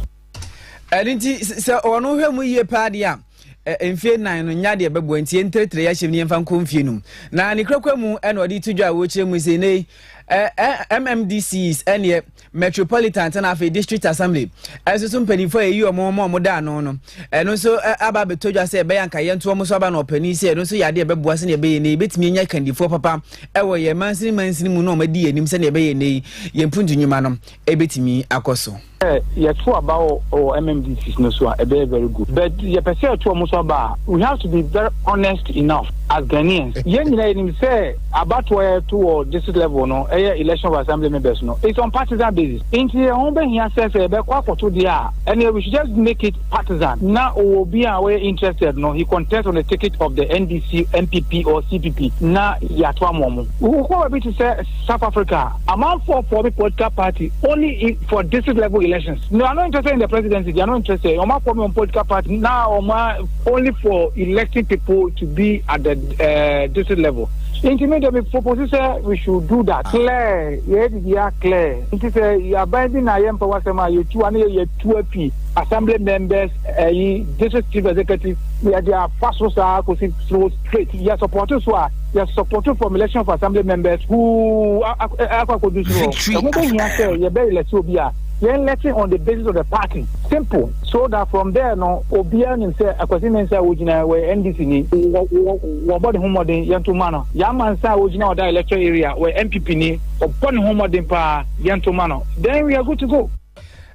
Ɛno nti sɛ wɔn hwɛ mu yie paa deɛ a, eh, mfie nan no nya deɛ ɛbɛboa nti yɛntrɛtrɛ yɛahyɛm ne yɛmfa nkɔ mfie nom na ne kurakura mu ɛna ɔde to dwa a wɔkyerɛ mu sɛ nei eh, eh, mmdcs ɛneɛ metropolitan tena afei district assembly ɛnso so mpanimfoɔ a ɛyi ɔmo ma ɔmo da ano no ɛno nso aba abɛtɔ dwa sɛ ɛbɛyɛ anka yɛnto ɔmo so aba na ɔpani sɛ ɛno nso yɛ adeɛ ɛbɛboa sɛdeɛ ɛbɛyɛ nei yɛbɛtumi anya kandifoɔ papa ɛwɔ yɛn mansini mansini mu na ɔmo adi yɛn anim sɛdeɛ ɛbɛyɛ nei yɛn mpuntu nnwuma no ɛbɛtumi akɔ so Sɛ yɛto aba wɔ wɔ MMDCs no so a, ɛbɛyɛ very good. But yɛpɛ sɛ yɛto ɔmo so aba a, we have to be very honest enough as Ghanaians. Yɛn nyinaa yɛnim sɛ abatoɔ yɛto wɔ district level no, ɛyɛ election of assembly members no, it's on partisan basis. Nti ɛho bɛhia sɛ sɛ yɛbɛkɔ akɔto deɛ a, ɛneɛ we should just make it partisan. Na ɔwɔ obi a ɔyɛ interested no, he contest on the ticket of the NDC, NPP or CPP na yɛato ama ɔmo. Wokɔ baabi te sɛ South Africa a, Amanfoɔ for me political party only if for district level elections me are not interested in the presidency they are not interested wɔn akɔ me wɔn political party na wɔn a only for electing people to be at the uh, district level nti me de me propose sɛ we should do that ah. clear yɛ bibi a clear nti sɛ yaban bi na yɛ mpɛ wasɛm a yɛtu ano yɛ yɛtu afi assembly members ɛyi eh, district chief executive yɛde afa so saa kɔsi so straight yɛ support so a yɛ sɔpɔto fɔm election of assembly members huu akɔ akɔdu soro hɔ ɛho bɛhia sɛ yɛbɛ elɛte obi a yɛn lɛte on the basis of the party simple so that from there no obiara nim sɛ akwasi ne nsa a wɔgyina wɔyɛ ndc ni wɔbɔ ne ho mmɔden yɛnto ma no yɛama nsa a wɔgyina ɔda electoral area wɔyɛ mpp ni ɔbɔ ne ho mmɔden paa yɛnto ma no then we are good to go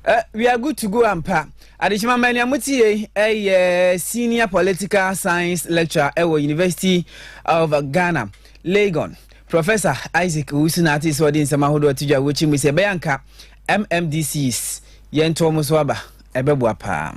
uh, we are good to go ampa Adekyema mma nea mote yei ɛyɛ Senior Political Science Lecturer ɛwɔ University of Ghana, Legon. Professor Isaac Owusu na ate sɛ ɔde nsɛm ahodoɔ to dwa wɔkyi mu sɛ ɛbɛyɛ anka MMDCs yɛntoɔ mo so aba ɛbɛboa paa.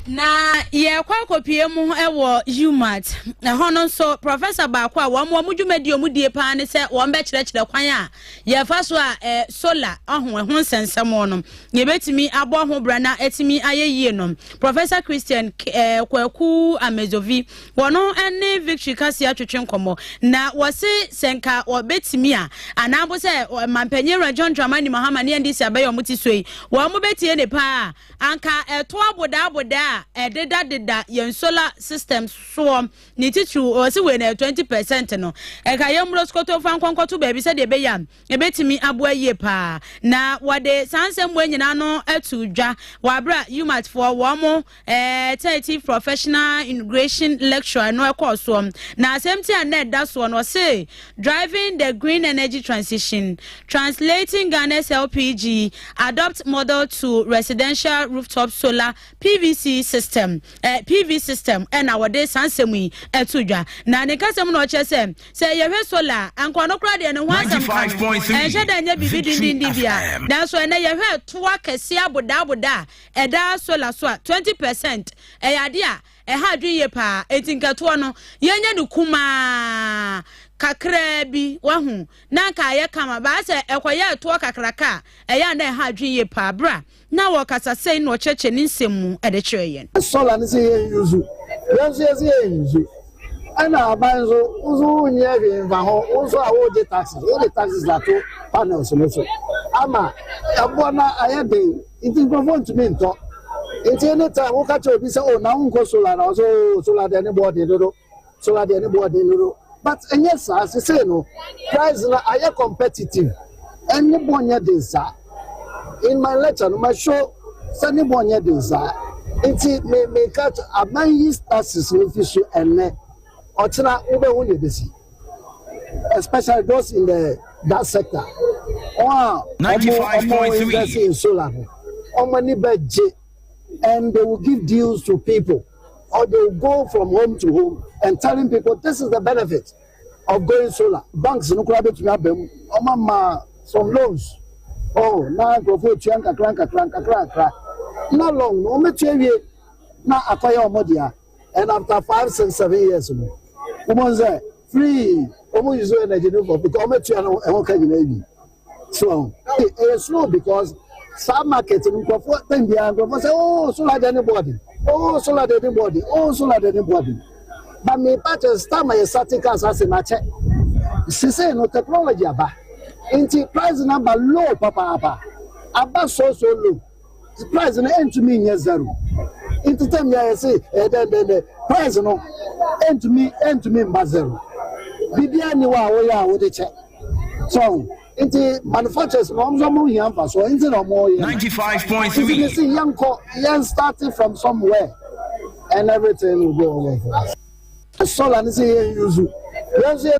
Na yɛkɔ akɔpie mu wɔ UMAT ɛhɔ no nso professor baako a wɔn wɔn dwumadi wɔn die paa ne sɛ wɔn bɛkyerɛkyerɛ kwan a yɛfa so a solar ɔho ɛho nsɛnsɛm no Yɛbɛtumi abɔ ho bra na atumi ayɛ yie no, Professor Christian eh, Kwaku Amezovi, wɔn ne Victory Kasia twetwe nkɔmmɔ, na wɔse sɛ nka wɔbɛtumi a, anaa mpo sɛ mampanyin awura John Dramani Mahama ne NDC abɛyɛ wɔn ti so yi, wɔn bɛtie ne paa a, anka ɛto abodaaboda a ɛdedadeda yɛn solar system soɔ ne titiriw, wɔse wei na 20 percent no, ɛka yɛn mmuro sokoto fa nkɔnkɔto baabi sɛdeɛ ɛbɛyɛ a, Ebetumi aboa yie paa na wɔde saa nsɛmmoa nyinaa no ato dwa wɔ abere a UMAT foɔ wɔn mo eh, Title Professional Integration Lecture no ɛkɔɔ soɔ. Na asɛm ti a na ɛda soɔ no ɔse Driving the Green Energy Transition, Translating Ghana's LPG Adopt Model to Residential Rooftop Solar PVC System, eh, PV System, ɛna wɔde saa nsɛm yi ato dwa. Na ne kasɛm no ɔkyerɛ sɛ Sɛ yɛhwɛ sola a, anka ɔno koraa deɛ ne ho asɛm ka no, ɛnhyɛ da nyɛ biribi dendenden bia. Nanso ɛnnɛ yɛhwɛ toɔ akɛseɛ abodaaboda a ɛda sola so a, 20 per cent, ɛyɛ adeɛ a ɛha adwene yie paa. Enti nka toɔ no yɛnyɛ no kumaa kakraa bi, wahu, na anka ayɛ kama. But sɛ ɛkɔyɛɛ toɔ kakraka a, ɛyɛ a na ɛha adwene yie paa. Bra. Na wɔ kasa sɛn na ɔkyerɛkyerɛ ne nsɛm mu de kyerɛ yɛn? Solar no sɛ yɛn use, yɛn nso yɛsɛ yɛn use. Ɛna aban nso, wo nso wo nyɛ hwee mfa ho, wo nso a wogye taxes, wode taxes ato panels no so ama ɛboɔ no ayɛ den, nti nkurɔfoɔ ntumi ntɔ. Nti anytime woka kyerɛ obi sɛ oh na wonkɔ solar na ɔsɛ oh solar deɛ ne boɔ den dodo. So adeɛ no boɔ den dodo but ɛnyɛ saa sesei no price no ayɛ competitive and ne boɔ nyɛ den saa in my lecture no ma show sɛ ne boɔ nyɛ den saa nti me me ka aban yi taxes no fi so ɛnɛ ɔkyena wobɛhu ne ɛbɛsi especially those in the that sector wɔn a ɔmo ɔmo invest in solar no ɔmo ani bɛgye and they will give deals to people. or they will go from home to home and telling people this is the benefit of going solar. Banks no koraa betumi aba mu. Wɔma ma some loans. Oh, na nkurɔfoɔ etua nkakra nkakra nkakra nkakra. Na long no wɔbɛtua wie na akɔyɛ wɔn dea. And after five six seven years no, wɔn sɛ free wɔn use energy no for because wɔatua no ɛho ka nyinaa wie. so ɔho hey ɛyɛ slow because saa market no nkurɔfoɔ tɛn biara nkurɔfoɔ sɛ oh solar de ne bɔɔde oh solar de ne bɔɔde oh solar de ne bɔɔde ba mepa kyɛ star ma yɛ sate cars ase na kyɛ sese no technology aba nti price na ba low papaapa aba so so low. Price no ɛntumi nyɛ zero nti tɛm bi a yɛse ɛyɛ dɛn dɛn dɛn price no ɛntumi ɛntumi mba zero biribiara ni hɔ a woyɛ a wode kyɛ so nti manufacturers no wɔn nso wɔn hia nfa so nti na wɔn yɛ ninety five point three nti ne se yɛn kɔ yɛn starting from somewhere and everything will go well for us solar ne se yɛn yuzu yɛn nso yɛ.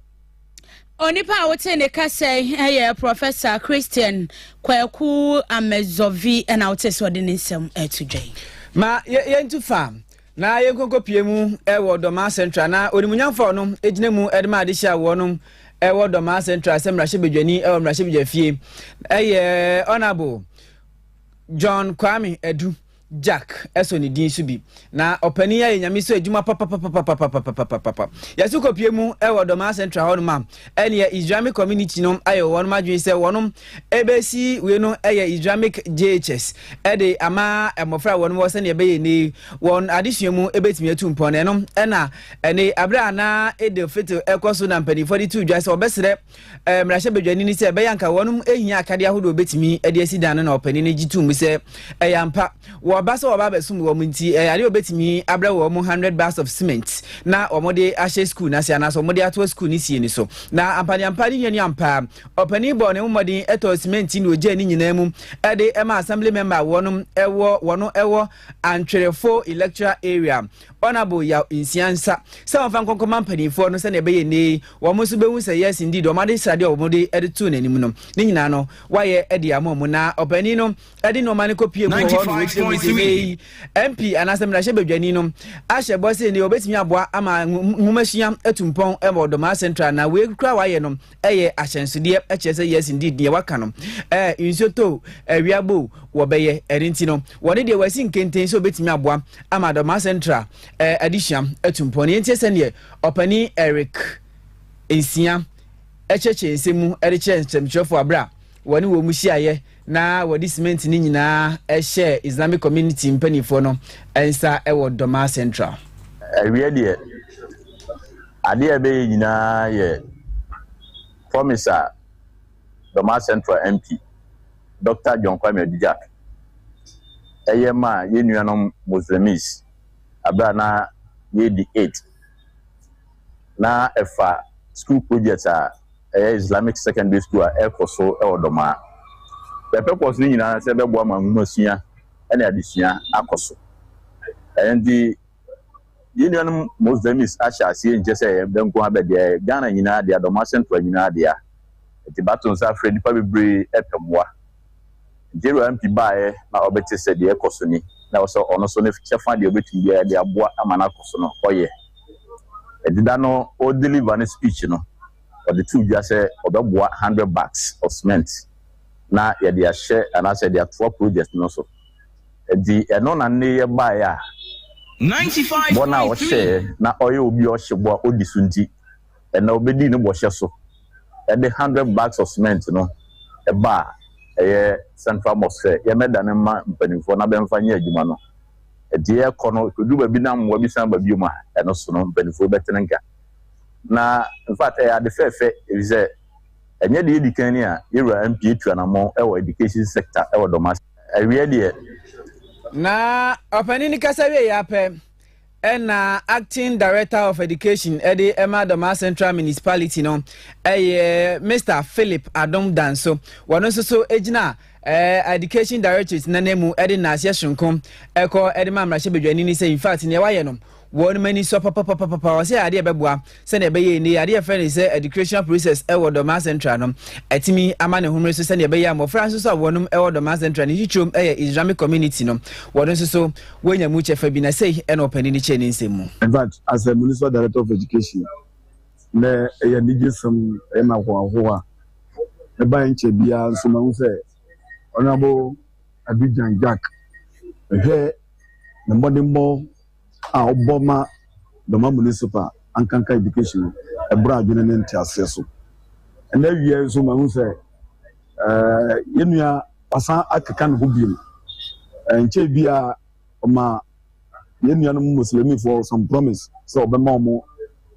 Onipa a wote ne kasa yɛ Prɔfɛsa Christian Kwaku Amedzɔvi na wote sɛ ɔde ne nsɛm ato dwa yi. Ma yɛntu fa na yɛnkɔnkɔpie mu wɔ Dɔmaa Central na onimunyamfo a ɔno gyina mu de ma adehyɛ a wɔnom wɔ Dɔmaa Central sɛ mmarahyɛbadwani wɔ mmarahyɛbadwafie ɛyɛ Honourable John Kwame Adu. Jack sɔ ne din so bi. Na ɔpanin ayɛ nyame so adwuma papapapapapapapapapa. Yɛso kɔpie mu wɔ Dɔmaa Central hɔ nom a, ɛneɛ Islamic community no ayɛ wɔn adwene sɛ wɔnom ɛbɛsi wei no ɛyɛ Islamic JHS ɛde ama mmɔfra wɔnom wɔ sɛdeɛ ɛbɛyɛ ɛnɛ wɔn adesua mu ɛbɛtumi atu mpɔn. Ɛno ɛna ɛne aberɛ a na Eid al-Fitr ɛkɔ so na mpanimfoɔ de to dwa sɛ wɔbɛsrɛ eh, mmarahyɛbadwani ne sɛ ɛbɛyɛ anka wɔnom ɛhia akade ahodoɔ bɛtumi de asi dan no na ɔpani no gye tom sɛ ɛyɛ ampa wɔba sɛ wɔba abɛsom wɔ m nti eh, adeɛ wɔbɛtumi abrɛ wɔ mu 100 bars of cement na wɔde ahyɛ skuul no ase anaasɛ wɔde atoa skuul no sie ni so na ampaneampa ne nuanu ampaa ɔpani bɔɔ ne mmɔden ɛtɔɔ cement ne ɔgyaa ne nyinaa mu ɛde ɛma assembly member wɔnom ɛwɔ wɔno ɛwɔ antwerɛfo electoral area Honourable Yaw Nsia nsa sɛ wɔmfa nkɔ nkɔma mpanimfoɔ no sɛdeɛ ɛbɛyɛ nnɛ yi wɔn nso bɛhu sɛ yes indeed wɔn ade sradeɛ a wɔde de too n'anim no ne nyinaa no wayɛ de ama wɔn na ɔpanin no de nneɛma no kɔpie mu wɔ hɔ no wɔkyerɛ mu sɛ nnɛ yi MP anaasɛ mmarahyɛ badwani no ahyɛ bɔ sɛ nnɛ wɔbɛtumi aboa ama nwomasua atu mpɔn wɔ Ɔdɔmaa Central na wei kura wayɛ no ɛyɛ ahyɛnsodeɛ ɛkyerɛ sɛ yes indeed deɛ waka no ɛɛ nsuo tɔ o awia bɔ o wɔbɛyɛ ɛne nti no wɔne deɛ wɔasi nkenten sɛ obetumi aboa ama adɔmaa central ɛɛ adesua atu mpɔn yɛn tie sɛdeɛ ɔpanin eric nsia ɛkyerɛkyerɛ nsɛm mu ɛde kyerɛ nsɛmtwerɛfoɔ abira wɔne wɔn mu hyiaeɛ na wɔde cement no nyinaa hyɛɛ Islamic Community mpanimfoɔ no nsa wɔ Doma Central. Awiɛ deɛ, adeɛ a ɛbɛyɛ nyinaa yɛ promise a Doma Central MP, Dɔkta John Kwame Adudjak, ɛyɛ maa yɛn nuanom Muslims berɛ a na yɛredi Eid. na ɛfa sukuu projɛt a ɛyɛ Islamic Secondary School a ɛrekɔ so wɔ Dɔmaa. Their purpose no nyinaa ne sɛ ɛbɛboa ma nwomasua ne adesua akɔ so. Ɛno nti, yɛn nuanom Muslims ahyɛ aseɛ nkyɛ sɛ ɛyɛ bɛ nko ara bɛ dea, ɛyɛ Ghana nyinaa dea, Dɔmaa Central nyinaa dea. Nti bato nsa frɛ nnipa bebree pɛ mmoa. Jero MP baeɛ na ɔbɛte sɛ deɛ ɛkɔ so ni, na ɛwɔ sɛ ɔno nso ne kyɛfa deɛ ɔbɛtumi biara de aboa ama no akɔ so no ɔyɛ. Ɛdeda no ɔ deliver ne speech no, ɔde too dwa sɛ ɔbɛboa hundred bags of cement na yɛde ahyɛ anaasɛ yɛde atoa project no so. Ɛnti ɛno na nnɛ yi ɛbaeɛ a bɔ no a ɔhyɛeɛ na ɔyɛ obi a ɔhyɛ bɔ a ɔdi so nti, Ɛnna obedii ne bɔhyɛ so de hundred bags of cement no ba a ɛyɛ Central Mosque sɛ yɛmmɛdane mma mpanimfoɔ na bɛmfa nyɛ adwuma no. Enti yɛrekɔ no, ɛkɔduru baabi na mmoa bi san ba biom a, ɛno so no, mpanimfoɔ bɛtene nka. Na in fact, ɛyɛ ade fɛɛfɛ efisɛ ɛnyɛ deɛ edi kan ni a yɛn wura MP atu anammɔn wɔ education sector wɔ Dɔmase. Awiɛ deɛ. Na ɔpanin no kasa wieeɛ ara pɛ, Ɛna Acting Director of Education de ma Dɔmaa Central Municipality no yɛ Mister Philip Adom Danso. Wɔno nso so gyina Education Directorate n'ananmu de naaseɛ sononko kɔ de ma mmarahyɛbadwani no sɛ in fact nea wayɛ no wɔn ani sɔ papapapapa wɔsɛ adeɛ bɛboa sɛnea ɛbɛyɛ a nnɛ ade a yɛfrɛ no sɛ educational process wɔ Dorman Central no atumi ama ne homere so sɛnea ɛbɛyɛ a mmɔfra nso so a wɔnom wɔ Dorman Central ne titrom yɛ Islamic community no wɔn nso so wɔanya mu kyɛfa bi na sei ɛna ɔpanin no kyerɛ ne nsɛm mu. In fact, as a municipal director of education, na ɛyɛ anigye sɛm ɛyɛ ma ahoahoa ɛbae nkyɛ biara nso ma ho sɛ Honorable Abidjan Jack ɛhwɛ ne mmɔdenbɔ a wɔbɔ ma Doma Municipal ankanka education no, ɛboro adwene ne nteaseɛ so. Ɛna awie nso mahu sɛ eh, yɛn nua wasan akeka ne ho bio. Eh, nkyɛn bi a ɔma yɛn nuanom Muslimifoɔ some promise sɛ ɔbɛma wɔn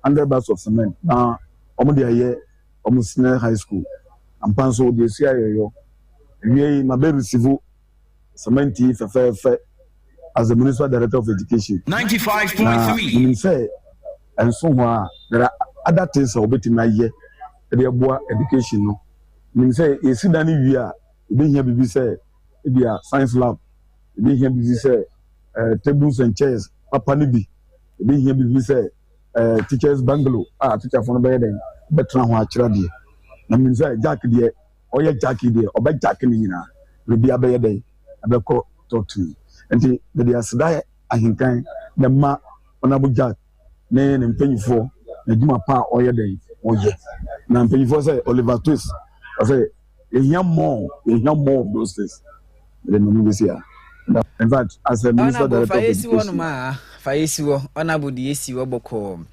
hundred bags of cement na wɔn de ayɛ wɔn senior high school. Ampa nso wɔde asi ayɛyɔ. Awie yi ma bɛ receive Samantee fɛfɛɛfɛ as a municipal director of education. Ninety five point three. Na menim sɛ ɛnso ho a there are other things a wɔbɛtumi ayɛ de aboa education no. Menim sɛ yɛsi dan no wie a yɛbɛhia biribi sɛ ebi a science lab, yɛbɛhia biribi sɛ uh, tables and chairs papa no bi, yɛbɛhia biribi sɛ uh, teachers bungalow a teacherfo no bɛyɛ dɛn bɛtena ho akyerɛ adeɛ. Na menim sɛ Jack deɛ ɔyɛ jackie deɛ ɔbɛ jackie ne nyinaa biribia bɛyɛ dɛn ɛbɛkɔ talk to me nti mede aseda ahenkan na ma honorable jack ne ne mpanyinfoɔ na adwuma pa a ɔyɛ dɛn ɔyɛ na mpanyinfoɔ sɛ oliver twist ɔsɛ yɛhia more yɛhia more of those things Ɛdeɛ memu bɛsi a. In fact, as a Minister Director of Education. fa yɛ si hɔ honourable de yɛ si hɔ bɔkɔɔ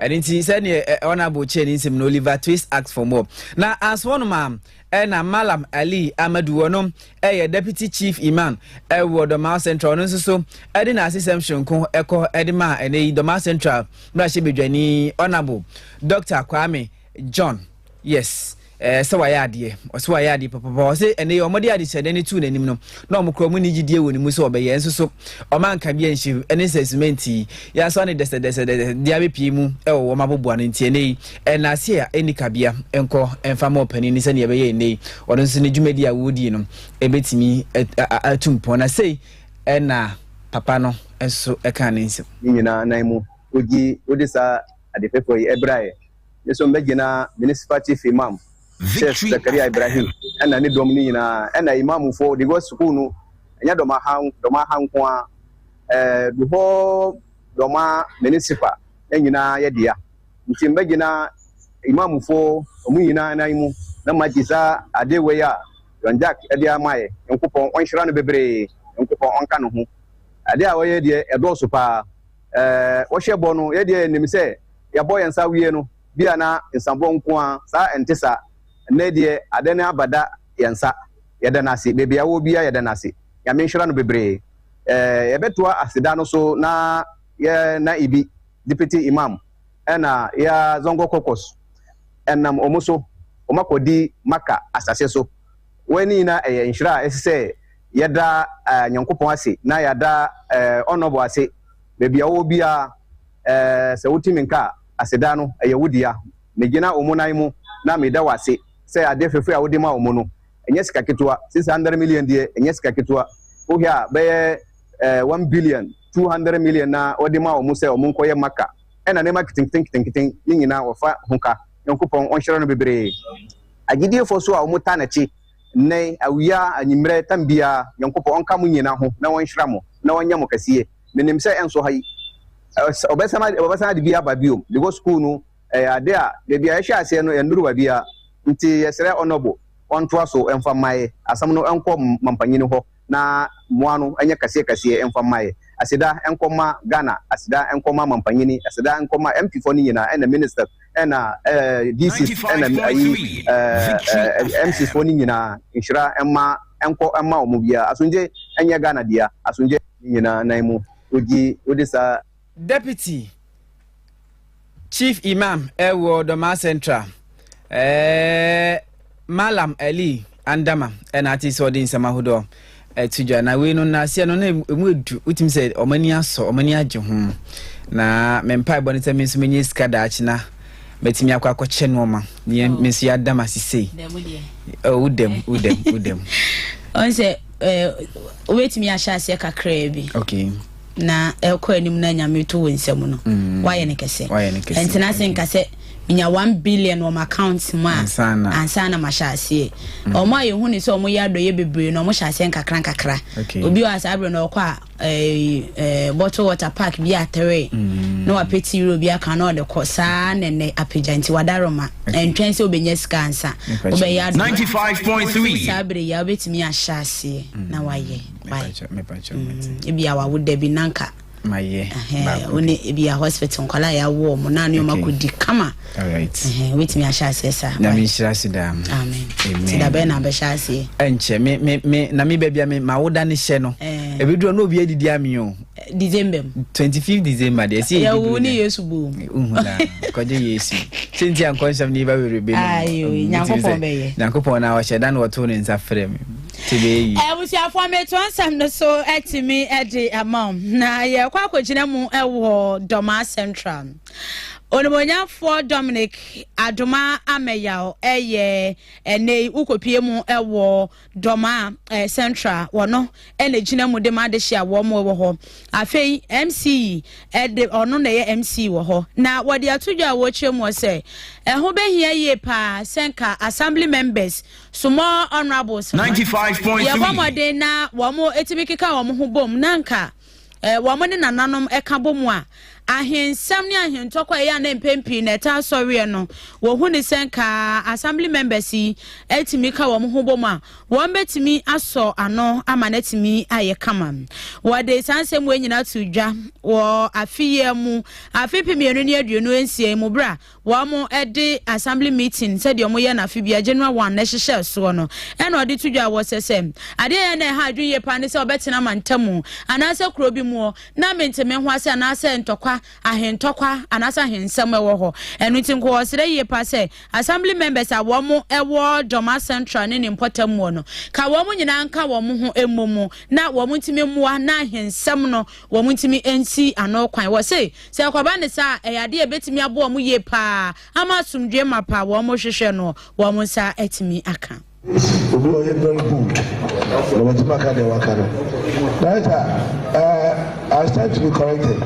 ɛno nti sɛdeɛ eh, honourable kyɛɛ ne nsɛm no Oliver Twist asked for more na anso hɔ nom a ɛna Malam Ali Amadu ɔno ɛyɛ deputy chief imam ɛwɔ eh, Dɔmaa Central ɔno nso so ɛde na asesɛm soronko ɛkɔ ɛde ma ɛnɛ yi Dɔmaa Central mmarahyɛ badwani honourable Dr Kwame John, Yes, ɛɛ sɛ wayɛ adeɛ, ɔsɛ wayɛ adeɛ papapa, ɔsɛ ɛnɛ yɛ wɔde adehyɛdɛ no tuu n'anim no, na wɔn kura wɔn ni gyidie wɔ ne mu sɛ ɔbɛyɛ, nso so wɔn anka bi anhyɛ mu, ɛne sɛ simenti yi, yɛasɔ ne dɛsɛdɛsɛdɛsɛ de abɛpie mu wɔ wɔn aboboa no nti, ɛnɛ yi, ɛnaase a ɛnni kabea nkɔ mfa ma ɔpanin no sɛdeɛ ɛbɛyɛ ɛnɛ yi, ɔno nso ne dwumadi a wɔredie no, ɛbɛtumi atu mpɔn, na sei ɛna papa no nso ɛkaa ne nsam. Ne nyinaa nan mu, wogye wode saa ade fɛfɛw yi ɛbra ɛ. Me nso mɛgyina Municipal Chief Imam Sheikh Zakaria Ibrahim ɛna ne dɔm no nyinaa ɛna Imam foɔ because sukuu no ɛnyɛ Dɔmaha Dɔmaha nko ara ɛɛ the whole Dɔma Municipal ne nyinaa yɛ dea nti mɛgyina Imam foɔ ɔmo nyinaa nan mu na magye saa ade wei a John Jack ɛde ama ɛ Nyankopɔn ɔnhyira no bebree Nyankopɔn ɔnka ne ho ade a ɔyɛ deɛ ɛdɔɔso paa wɔhyɛ bɔ no, yɛn deɛ yɛnim sɛ yɛbɔ yɛn nsa wie no, bi a na nsabɔ nko ara, saa ɛnte saa. Nnɛ deɛ ada ne aba da yɛn nsa, yɛda no ase, baabi a yɛwɔ biara yɛda no ase, Nyame nhyira no bebree. Ɛɛ yɛbɛtoa aseda no so na yɛ Na'ibi, Deputy Imam, ɛna yɛ Zongo Caucus, ɛnam wɔn so wɔakɔdi Makkah asase so, Wei ne nyinaa ɛyɛ nhyira a ɛse sɛ yɛda Nyankopɔn ase na yɛada Ɔnnɔbɔ ase baabi a ɔwɔ biara. Sɛ wotumi nka a, aseda no ɛyɛ wo dea. Megyina wɔn nan mu na meda wo ase sɛ adeɛ fɛfɛ a wode ma wɔn no ɛnyɛ sika ketewa. Six hundred million deɛ ɛnyɛ sika ketewa. Wohwɛ a bɛyɛ one billion, two hundred million na wɔde ma wɔn sɛ wɔnkɔyɛ Makkah ɛna nneɛma ketenketen ketenketen ne nyinaa wɔfa ho ka. Nyankopɔn ɔnhyira no bebree. Agyidiefoɔ nso a wɔtaa N'akyi nnɛ, awia, anwummerɛ, tam biara, Nyankopɔn ɔnka mo nyina ho na ɔnhyira mo na ɔnyɛ mo kɛseɛ. Menim sɛ ɛnso ha yi, ɛs, wɔbɛsan, wɔbɛsan ade bi aba biom, because school no, ɛyɛ ade a, baabi a yɛhyɛɛ aseɛ no, yɛnnuru baabiara. Nti yɛsrɛ Honourable, ɔntoa so mfa mmaeɛ, asɛm no nkɔ Mampanyini hɔ. na mmoa no nyɛ kɛseɛ kɛseɛ mfa mmaeɛ. Aseda nkɔ ma Ghana, aseda nkɔ ma Mampanyini, aseda nkɔ ma MP foɔ no nyinaa ɛna Ministers ɛna DCs ɛna ayi MCs foɔ no nyinaa. Nhyira mma nkɔ mma wɔn biara. Asomdwe nyɛ Ghana dea. Asomdwe. Nyinaa nan mu wogye wode saa. Deputy Chief Imam ɛwɔ Dɔmaa Central ɛɛ Mallam Ali Andama ɛna ate sɛ ɔde nsɛm ahodoɔ ɛto dwa na wei no nnaseɛ no na ɛmu edu wotumi sɛ ɔmo ani asɔ ɔmo ani agye ho na me mpaebɔ no sɛ me nso menyɛ sika daakye na mɛtumi akɔ akɔkyɛ nneɛma neɛ oh. me nso yɛadam ase sei wodam oh, wodam wodam ɔn sɛ eh, wobɛtumi ahyɛ aseɛ kakraa bi okay na ɛrekɔ anim na nyame to wo nsa mu no woayɛ no kɛsɛ ɛntena ase nka sɛ menya 1 billion wɔ m'account mu a ansa na mahyɛ aseɛ ɔmo a yɛhu ne sɛ ɔmo yɛ adɔyɛ bebree na ɔmo hyɛ aseɛ nkakra nkakra obi wɔ saa berɛ na ɔkɔ a eh, eh, bottle water park bi atere mm. na wapɛ ti wura obi aka na ɔde kɔ saa na ɛnɛ apagya nti wadaroma ɛntwɛn sɛ wobɛnya sika ansa wobɛyɛ adɔyɛ saa berɛ yi a wobɛtumi ahyɛ aseɛ mm. na wayɛ ebia wawo da bi nanka wone ebia hospital nkwadaa yɛ awoɔ ɔmo naa ne ɔmo akɔdi kama wobɛtumi ahyɛ aseɛ saa nyame nhyira se daa amen ti da bɛyɛ na abɛhyɛ aseɛ ɛnkyɛ me me me na me baabi a me ma woda ne hyɛ no ɛbɛduru na obi adidi ami o december mu twenty fifth december deɛ ɛsɛ yɛ ɛwɔ ne yesu bom uhu na kɔgye yesu senti ankɔnsɛm ne yɛba wɛrɛ bɛ no nyankopɔn bɛyɛ nyankopɔn na ɔhyɛ da na ɔtoo ne nsa frɛ me abusuafoɔ metoɔ nsɛm no so atumi de ama wo na yɛkɔ akɔgyina mu wɔ dɔmaa central onimonyamfoɔ dominic adoma amayaw ɛyɛ ɛnɛ wokɔpie mu wɔ dɔmaa eh, central wɔno ɛna gyina mu de ma adehye a wɔn wɔ hɔ afei mce ɛde ɔno na ɛyɛ mce wɔ hɔ na wɔde ato dwa a wɔkyerɛ mu sɛ ɛho bɛhia yie paa sɛ nka assembly members small honourables no yɛbɔ mmɔden na wɔtumi keka wɔn ho bom na nka eh, wɔn ne nananom ka bɔ mu a ahensɛm ne ahentɔkɔ ɛyɛ a na mpɛn pii na ɛtaa sɔreɛ no wɔhu ne sɛ nka assembly members yi atumi ka wɔn ho bom a wɔn bɛtumi asɔ ano ama no atumi ayɛ kama wɔde saa nsɛm wɔ nyinaa to dwa wɔ afeyiɛ mu afe pemienu ne aduonu nsia mu berɛ a wɔn de assembly meeting sɛdeɛ wɔn yɛ no afe bia January one na ɛhyehyɛ soɔ no ɛna ɔde to dwa wɔ sɛ sɛ adeɛ yɛ na ɛha adwene yie paa ne sɛ ɔbɛtena mantamu anaasɛ kuro bi muɔ na mente me ho ase anaasɛ ntɔkwa ahentɔkwa anaasɛ ahensɛm ɛwɔ hɔ ɛno nti nko ɔsrɛ yie paa sɛ assembly members a wɔn ɛwɔ Dɔma Central ne ne mpɔtam muɔ no ka wɔn nyinaa nka wɔn ho mmɔ mu na wɔn ntumi mmoa na ahensɛm no wɔn ntumi nsi ano kwan wɔ se Sɛ ɛkɔba no saa a, ɛyɛ ade a ebetumi aboa wɔn yiye paa ama asomdwoe mapa a wɔhwehwɛ no wɔn nsa atumi aka. Obi a ɔyɛ very good na watumi aka deɛ waka no. Director, uh, I stand to be corrected.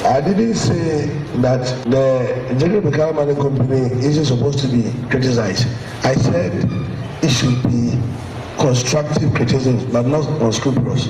I didn't say that the General Bikala Mining Company isn't supposed to be criticized. I said it should be constructive criticism, but not unscrupulous.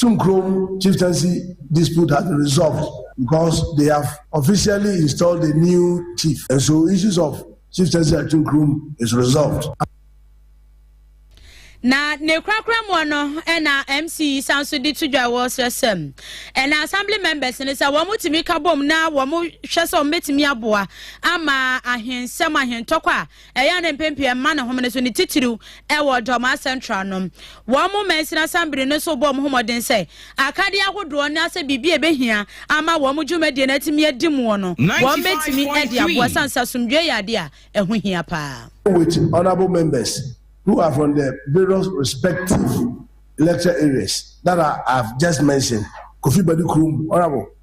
Chumkrom chieftaincy dispute has been resolved because they have officially installed a new chief and so issues of chieftaincy at Chumkrom is resolved. na ne korakora mu no na mc yi san so de to dwa wɔ srɛsɛm ɛna assembly members no sɛ wɔn tumi ka bom na wɔn hwɛ sɛ wɔn betumi aboa ama ahensɛm ahentɔkwa. Ɛyɛ a na mpɛn pii ɛmma no homene so, ne titiriw ɛwɔ Dormaa Central no. Wɔn mo mansini asambere no nso bɔɔ wɔn ho mmɔden sɛ akadeɛ ahodoɔ ne asɛ biribi a ɛbɛhia ama wɔn mo dwumadie no atumi adi muɔ no wɔn bɛtumi de aboa ɛsiane sɛ asomdwoeɛ yɛ adeɛ a ɛho hia paa. With honourable members who are from the various respective electoral areas that I have just mentioned, Kofi Badu Krom, honourable.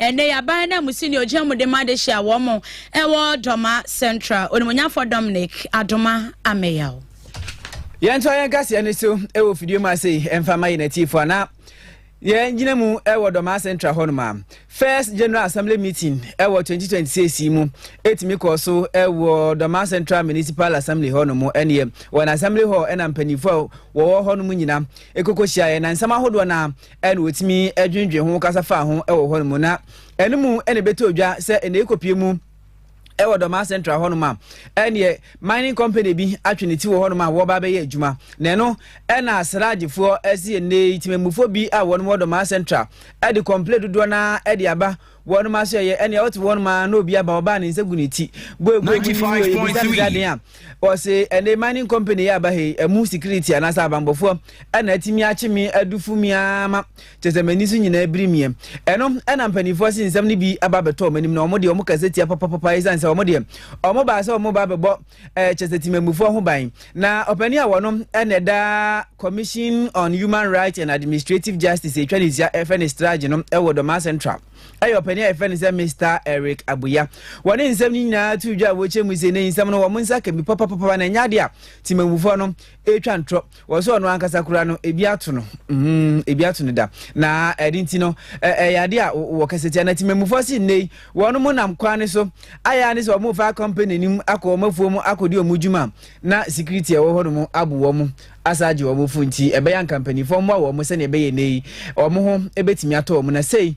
Ɛnnɛ yi, aban ananmusi ne ogya mu de ma de hyia wɔn wɔ Dɔma Central. Onimonyafo Dominic Adoma Ameyaw. Yɛntoa yɛn kaseɛ no so wɔ fidie mu ase mfa ma yɛn atiefo anaa yɛgyina mu wɔ Dɔma Central hɔ noma. First General Assembly Meeting wɔ 2026 mu ɛtumi kɔɔ so wɔ Dɔma Central Municipal Assembly hɔ nom ɛneɛ wɔn Assembly hɔ ɛna mpanyinfoɔ a wɔwɔ hɔ nom nyina ɛkokɔ hyiaeɛ na nsɛm ahodoɔ no ɛna wɔtumi dwendwen ho kasa faa ho wɔ hɔ no mu na ɛno mu ɛna ɛbɛtɔ dwa sɛ ɛna ɛkɔpie mu ɛwɔ dɔmaa central hɔ nom a ɛneɛ mining company bi atwe ne ti wɔ hɔ nom a wɔba bɛyɛ adwuma na ɛno ɛna asragyefoɔ ɛsi ɛnɛ yi temamufoɔ bi a wɔn wɔ dɔmaa central ɛde kɔmple dodoɔ no ɛde aba Wɔn mma nso yɛ ɛnea ɔte wɔn mma na obi aba ɔbaa ne nsa gu ne ti boe boe mu ne yɛ ebisa ne sɛ aden a ɔse ɛnɛ mining company yɛ aba ha yi ɛmu security anaasɛ abanbɔfoɔ ɛna atumi akye me adufo mi ama kyɛ sɛ m'ani so nyinaa biri miɛ ɛno ɛna mpanimfoɔ se nsɛm no bi aba abɛtɔ wɔn anim na wɔn deɛ wɔn kasa tia papapapa ɛsiane sɛ wɔn deɛ wɔn baa sɛ wɔn ba bɛbɔ eh, kyɛ sɛ timamufoɔ ho ban na ɔpani a wɔnom ɛna ɛda commission on human rights and administrative justice ɛtwa ne sia ɛfɛ ne strage no ɛwɔ dɔmaa central ɛyɛ ɔpani a yɛfɛ ne sɛ mr eric abuya wɔne nsɛm no nyinaa to dwa a wɔkyɛ mu sɛ ne nsɛm no wɔn nsa ka bi papapapa na ɛnyɛ adeɛ a timamufoɔ no ɛtwa ntorɔ wɔ sɛ ɔno ankasa kura no ebi ato no mm, ebi ato no da na ɛde nti no ɛyɛ ade a wɔ kɛse tia na tìmɛmufoɔ si nne yi wɔn mo nam kwan no so ayɛ ne sɛ wɔn fa company nim akɔ wɔn afuo mu akɔdi wɔn dwuma na security ɛwɔ hɔ nom abo wɔn asa agye wɔn fo nti ɛbɛyɛ nka mpanyinfoɔ mmoa wɔn sɛnea ɛbɛyɛ nne yi wɔn ho ebɛtumi atɔ wɔn na sei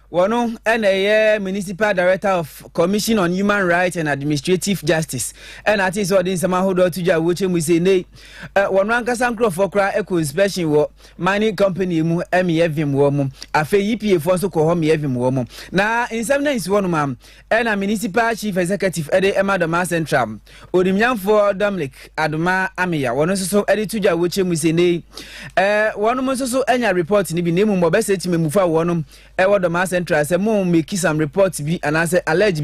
Wɔno na ɛyɛ Municipal Director of Commission on Human Rights and Administrative Justice ɛna ate sɛ ɔde nsɛm ahodoɔ ato dwa wɔ kyɛ mu sɛ nei wɔno ankasa nkurɔfoɔ koraa ɛkɔ inspection wɔ mining company mu ɛmeyɛ vim wɔ mu afei EPA foɔ nso kɔ hɔ meyɛ vim wɔ mu na nsɛm no ansi hɔ nom a Ɛna Municipal Chief Executive de ma Dɔmaa Central, Onimnyamfoɔ Dominic Adoma Ameya, wɔn nso so de to dwa wokyɛ mu sɛ nnei wɔn nso so anya report no bi na mmom wɔbɛsɛ tim mmufa wɔn wɔ Dɔmaa Central sɛ mo make some report bi anaasɛ allege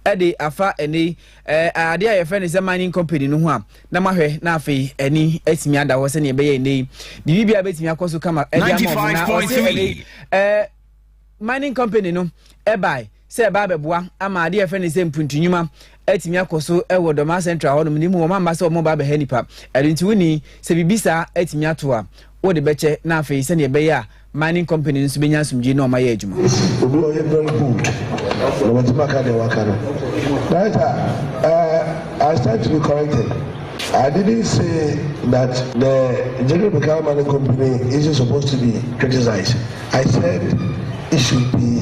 bi de afa nnei adeɛ a yɛfrɛ no sɛ mining company no ho a na mahwɛ na afei ani atumi ada hɔ sɛdeɛ ɛbɛyɛ nnei biribi a bɛtumi akɔ so kama ɛde ama wɔn na ɔse nnei mining company no ɛbae sɛ ɛba abɛboa ama adeɛ a yɛfrɛ no sɛ mpuntunwuma atumi akɔ so wɔ dɔmaa central hɔnom ne mu wɔn amma sɛ wɔn ba abɛha nipa ɛno nti woni sɛ biribi saa atumi ato a wode bɛkyɛ na afei sɛdeɛ ɛbɛyɛ a mining company nso bɛnya asomdwie na wɔn ayɛ adwuma. obi ɔyɛ very good na wɔtumi aka deɛ waka no right a uh, I stand to be corrected. I didn't say that the General Beckham Mining Company isn't supposed to be criticized. I said it should be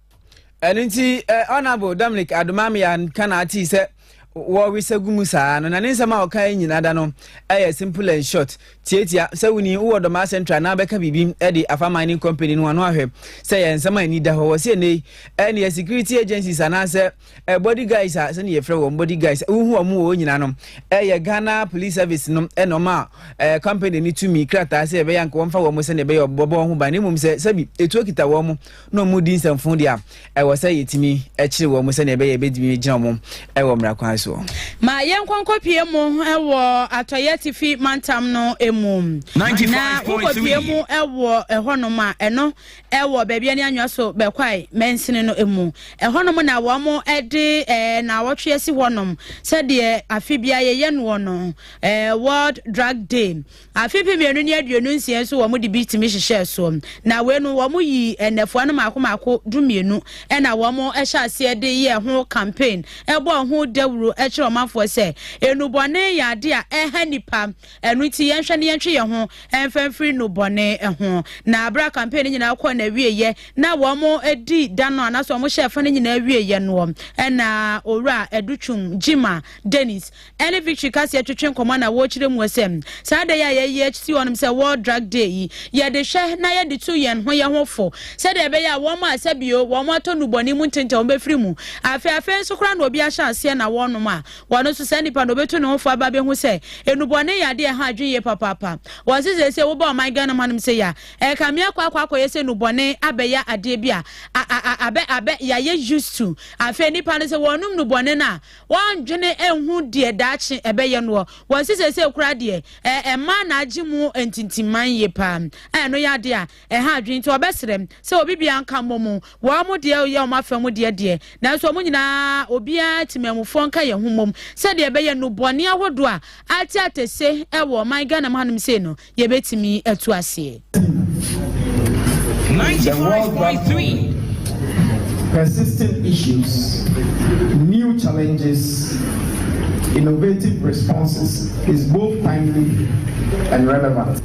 ɛno nti eh, honorable dominic adomamea nka na atee sɛ wɔresa gu mu saa no na ne nsɛm a ɔka nyina da no ɛyɛ simple and short tiatia sɛ woni wowɔ dɔmaa central na wobɛka biribi de afa mining company no ano ahwɛ sɛ yɛ nsɛm a ɛni da hɔ wɔ sɛ ɛnei ɛneɛ security agencies anaasɛ eh, body guys a sɛne yɛfrɛ wɔn body guys wohu wɔn wɔ nyina no ɛyɛ eh, ghana police service no ɛna eh, ɔma eh, company no tumi krataa sɛ ɛbɛyɛ anka wɔmfa wɔn sɛne ɛbɛyɛ ɔbɔbɔ wɔn ho ban na mmom sɛ sɛbi ɛtuo kita wɔn mo na wɔn di nsɛmfo deɛ a ɛwɔ sɛ yɛtumi kyere wɔn mo sɛne ɛbɛyɛ ɛbɛtumi gyina wɔn ɛwɔ mmara kwan soɔ ma yɛnkɔnkɔpie mu ɛwɔ atɔyɛ tifi mantam no mu na wokɔpie mu ɛwɔ ɛhɔnom a ɛno wɔ baabi a ne anwea so bɛkwae mansini no mu. Ɛhɔnom na wɔde naawɔtwe asi hɔnom sɛdeɛ afe biara yɛyɛ noɔ no World Drug Day. Afe mpem mmienu ne aduonu nsia nso wɔde bi tumi hyehyɛɛ so. Na wei no wɔyi nnɛfoa no mmaako mmaako du mmienu na wɔhyɛ aseɛ de yɛ ho campaign ɛbɔ ho dawuro kyerɛ ɔmanfoɔ sɛ enubɔne yɛ adeɛ a ɛha nipa Ɛno nti yɛnhwɛ na yɛntwe yɛn ho mfa mfiri nnubɔne ho. Na bere a campaign no nyinaa kɔɔ n'awieeɛ na wɔdi da no anaasɛ wɔhyɛɛ fa no nyinaa wieeɛ noɔ na Owura Adutwum Gyima Dennis ɛne Victory Kaseɛ twetwe nkɔmmɔ na wɔkyerɛ muo sɛ saa da yi a yɛyi asi hɔnom sɛ World Drug Day yi yɛde hwɛ na yɛde tu yɛn ho yɛn ho fo sɛdeɛ ɛbɛyɛ a wɔn a sɛbio wɔn atɔ nnubɔne mu ntentɛ wɔn bɛfiri mu. Afei afei nso koraa na obi ahyɛ aseɛ na wɔnom a Ɔno nso, saa nipa no, obetu ne ho fo aba abehu sɛ nnubɔne yɛ ade a ɛha adwene yie papaapa. Wɔse seesei woba ɔman Ghana mu hanom sei a, ɛka me akɔ akɔ akɔyɛ sɛ nnubɔne abɛyɛ adeɛ bi a abɛ abɛ yɛayɛ used to. Afei nnipa no sɛ wɔnom nnubɔne no a, wɔndwene nhu deɛ daakye ɛbɛyɛ noɔ. Wɔse seesei koraa deɛ, ɛmaa n'agye mu ntintimman yie paa, a ɛno yɛ adeɛ a Ɛha adwene nti wɔbɛsrɛ sɛ obi biara nka mmɔ mu, wɔn deɛ yɛ wɔn afa mu deɛ deɛ, nanso wɔn nyinaa obiara temanmufoɔ nka yɛn ho mmom sɛdeɛ ɛbɛyɛ nnubɔne ahodoɔ a ate atɛse wɔ ɔman Ghana mu hanom sei no yɛbɛtumi atu aseɛ. The World Drug Fund, Persistent Issues, New Challenges, Innovative Responses is both timely and relevant.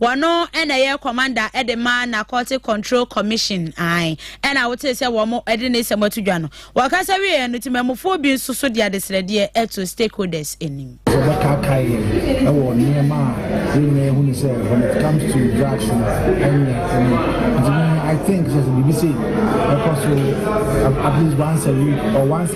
Wɔno na ɛyɛ kɔmanda de ma Narcotic Control Commission ae ɛna wotee sɛ wɔn de ne sɛm ato dwa no. Wɔkasa wieɛ no temamufoɔ bi nso so de adesrɛdeɛ ɛto stakeholders anim. Wɔbɛkaakae yɛn ɛwɔ nneɛma a yɛn nyinaa hunu sɛ when it comes to drugs no ɛnyɛ ɛno. Nti I think sɛ sɛ biribi sei ɛkɔ so at least once a week or once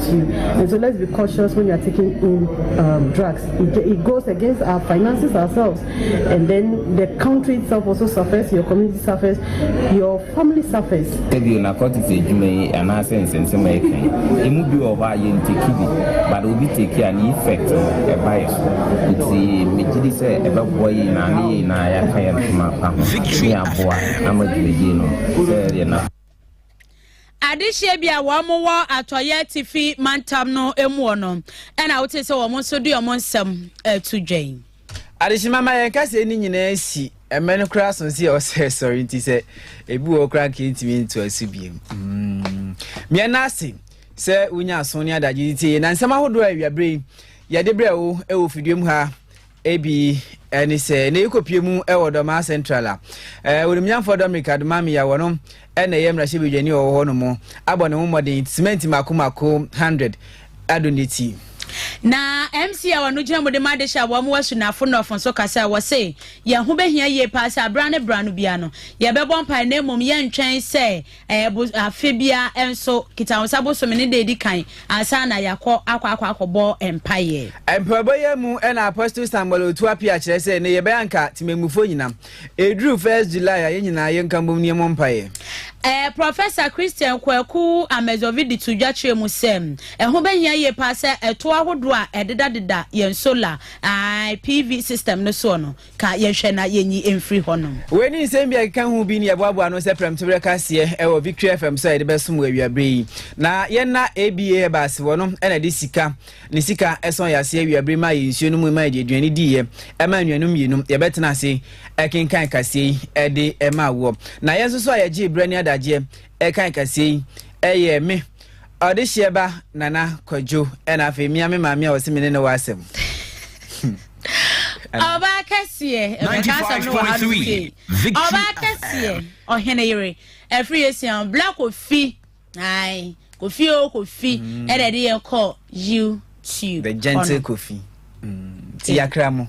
to you and so let's be cautious when you're taking in um, drugs it, it, goes against our finances ourselves and then the country itself also suffers your community suffers your family suffers ebio na kɔte sɛ adwuma yi anaasɛ nsɛnsɛm a ɛka yi ɛmu bi wɔ hɔ a yɛnteki bi but obi teki a ne effect ɛba yɛ so nti megye di sɛ ɛbɛboa yi na ne yɛ nyinaa yɛaka yɛ ntoma pa ho ne aboa ama dwumadie no sɛ ɛdeɛ na adehyeɛ bi a wɔn wɔ atɔeɛ atifi mantam no muɔ no ɛna wote sɛ wɔn nso de wɔn nsɛm to dwan adehyema ma yɛn kaseɛ no nyinaa si ɛmɛ no koraa so sɛ ɔsɛ sɔre nti sɛ ebi wɔ koraa nka ɛntumi nto aso biom mm. meɛ no ase sɛ wonya aso ne adagye de tie na nsɛm ahodoɔ a awiaberɛ yi yɛde berɛ wo ɛwɔ fidua mu ha Ebi ne sɛ na yɛkɔpie mu wɔ Dɔmaa Central a Onimnyamfoɔ Dominic Adomami a wɔnom na ɛyɛ mmarahyɛbadwani wɔ hɔ no mu abɔ ne ho mmɔden simɛnti mako mako 100 ado ne ti. Na MC a wɔno gyina mu de ma adehyɛ a wɔn wasu no afo nnɔfo nso ka sɛ wɔse yɛn ho bɛhia yie paa sɛ abera ne bra no bia no yɛbɛbɔ mpae na mmom yɛntwɛn sɛ Ɛɛ bo afe biara nso, Kitahosa bosome no da a ɛdi kan ansa na yɛakɔ akɔ akɔ akɔbɔ mpaeɛ. Mpaebɔ yi mu na Apostle Samuel Otu Appiah kyerɛ sɛ nnɛ yɛbɛyɛ anka temammufoɔ nyinaa. Ɛduru first July a yɛn nyinaa yɛn nka mbom na yɛmmɔ mpaeɛ. Ɛɛ Professor Christian Kwaku Amezovi de too dwa kyerɛɛ mu sɛ, ɛho bɛhia yie paa sɛ ɛtoɔ ahodoɔ a ɛdedadeda yɛn solar, ae, PV system no soɔ no, ka yɛnhwɛ na yɛnyi mfiri hɔnom. Wei ne nsɛm bi a ɛkeka ho bi ne yɛboaboa ano sɛ prɛmtoberɛ kaseɛ wɔ Victory FM so a yɛde bɛsom wɔ awiaberɛ yi. Na yɛn na ABA Herbals wɔ no na ɛde sika ne sika ɛsɔn yɛ aseɛ awiaberɛ ma yɛ nsuo no mu ma yɛde aduane diiɛ ɛma anuanom mmienu yɛbɛtena ase ɛkenkan kaseɛ yi ɛde ɛma awoɔ. Na yɛn nso so a yɛgye berɛ ne adagyeɛ ɛkan kaseɛ yi ɛyɛ me Ɔdehyeɛ ba Nana Kwadwo ɛna afei mia me maame a ɔse me ne no wɔ asɛm. Ɔba akɛseɛ ɛbɛka asɛm no wɔ ha no sei. Ɔba akɛseɛ ɔhene yere ɛfiri esia bla kofi ayi kofi o kofi mm. ɛna ɛde yɛ kɔ YouTube. The gentle kofi. Mm. Ti yakra mo.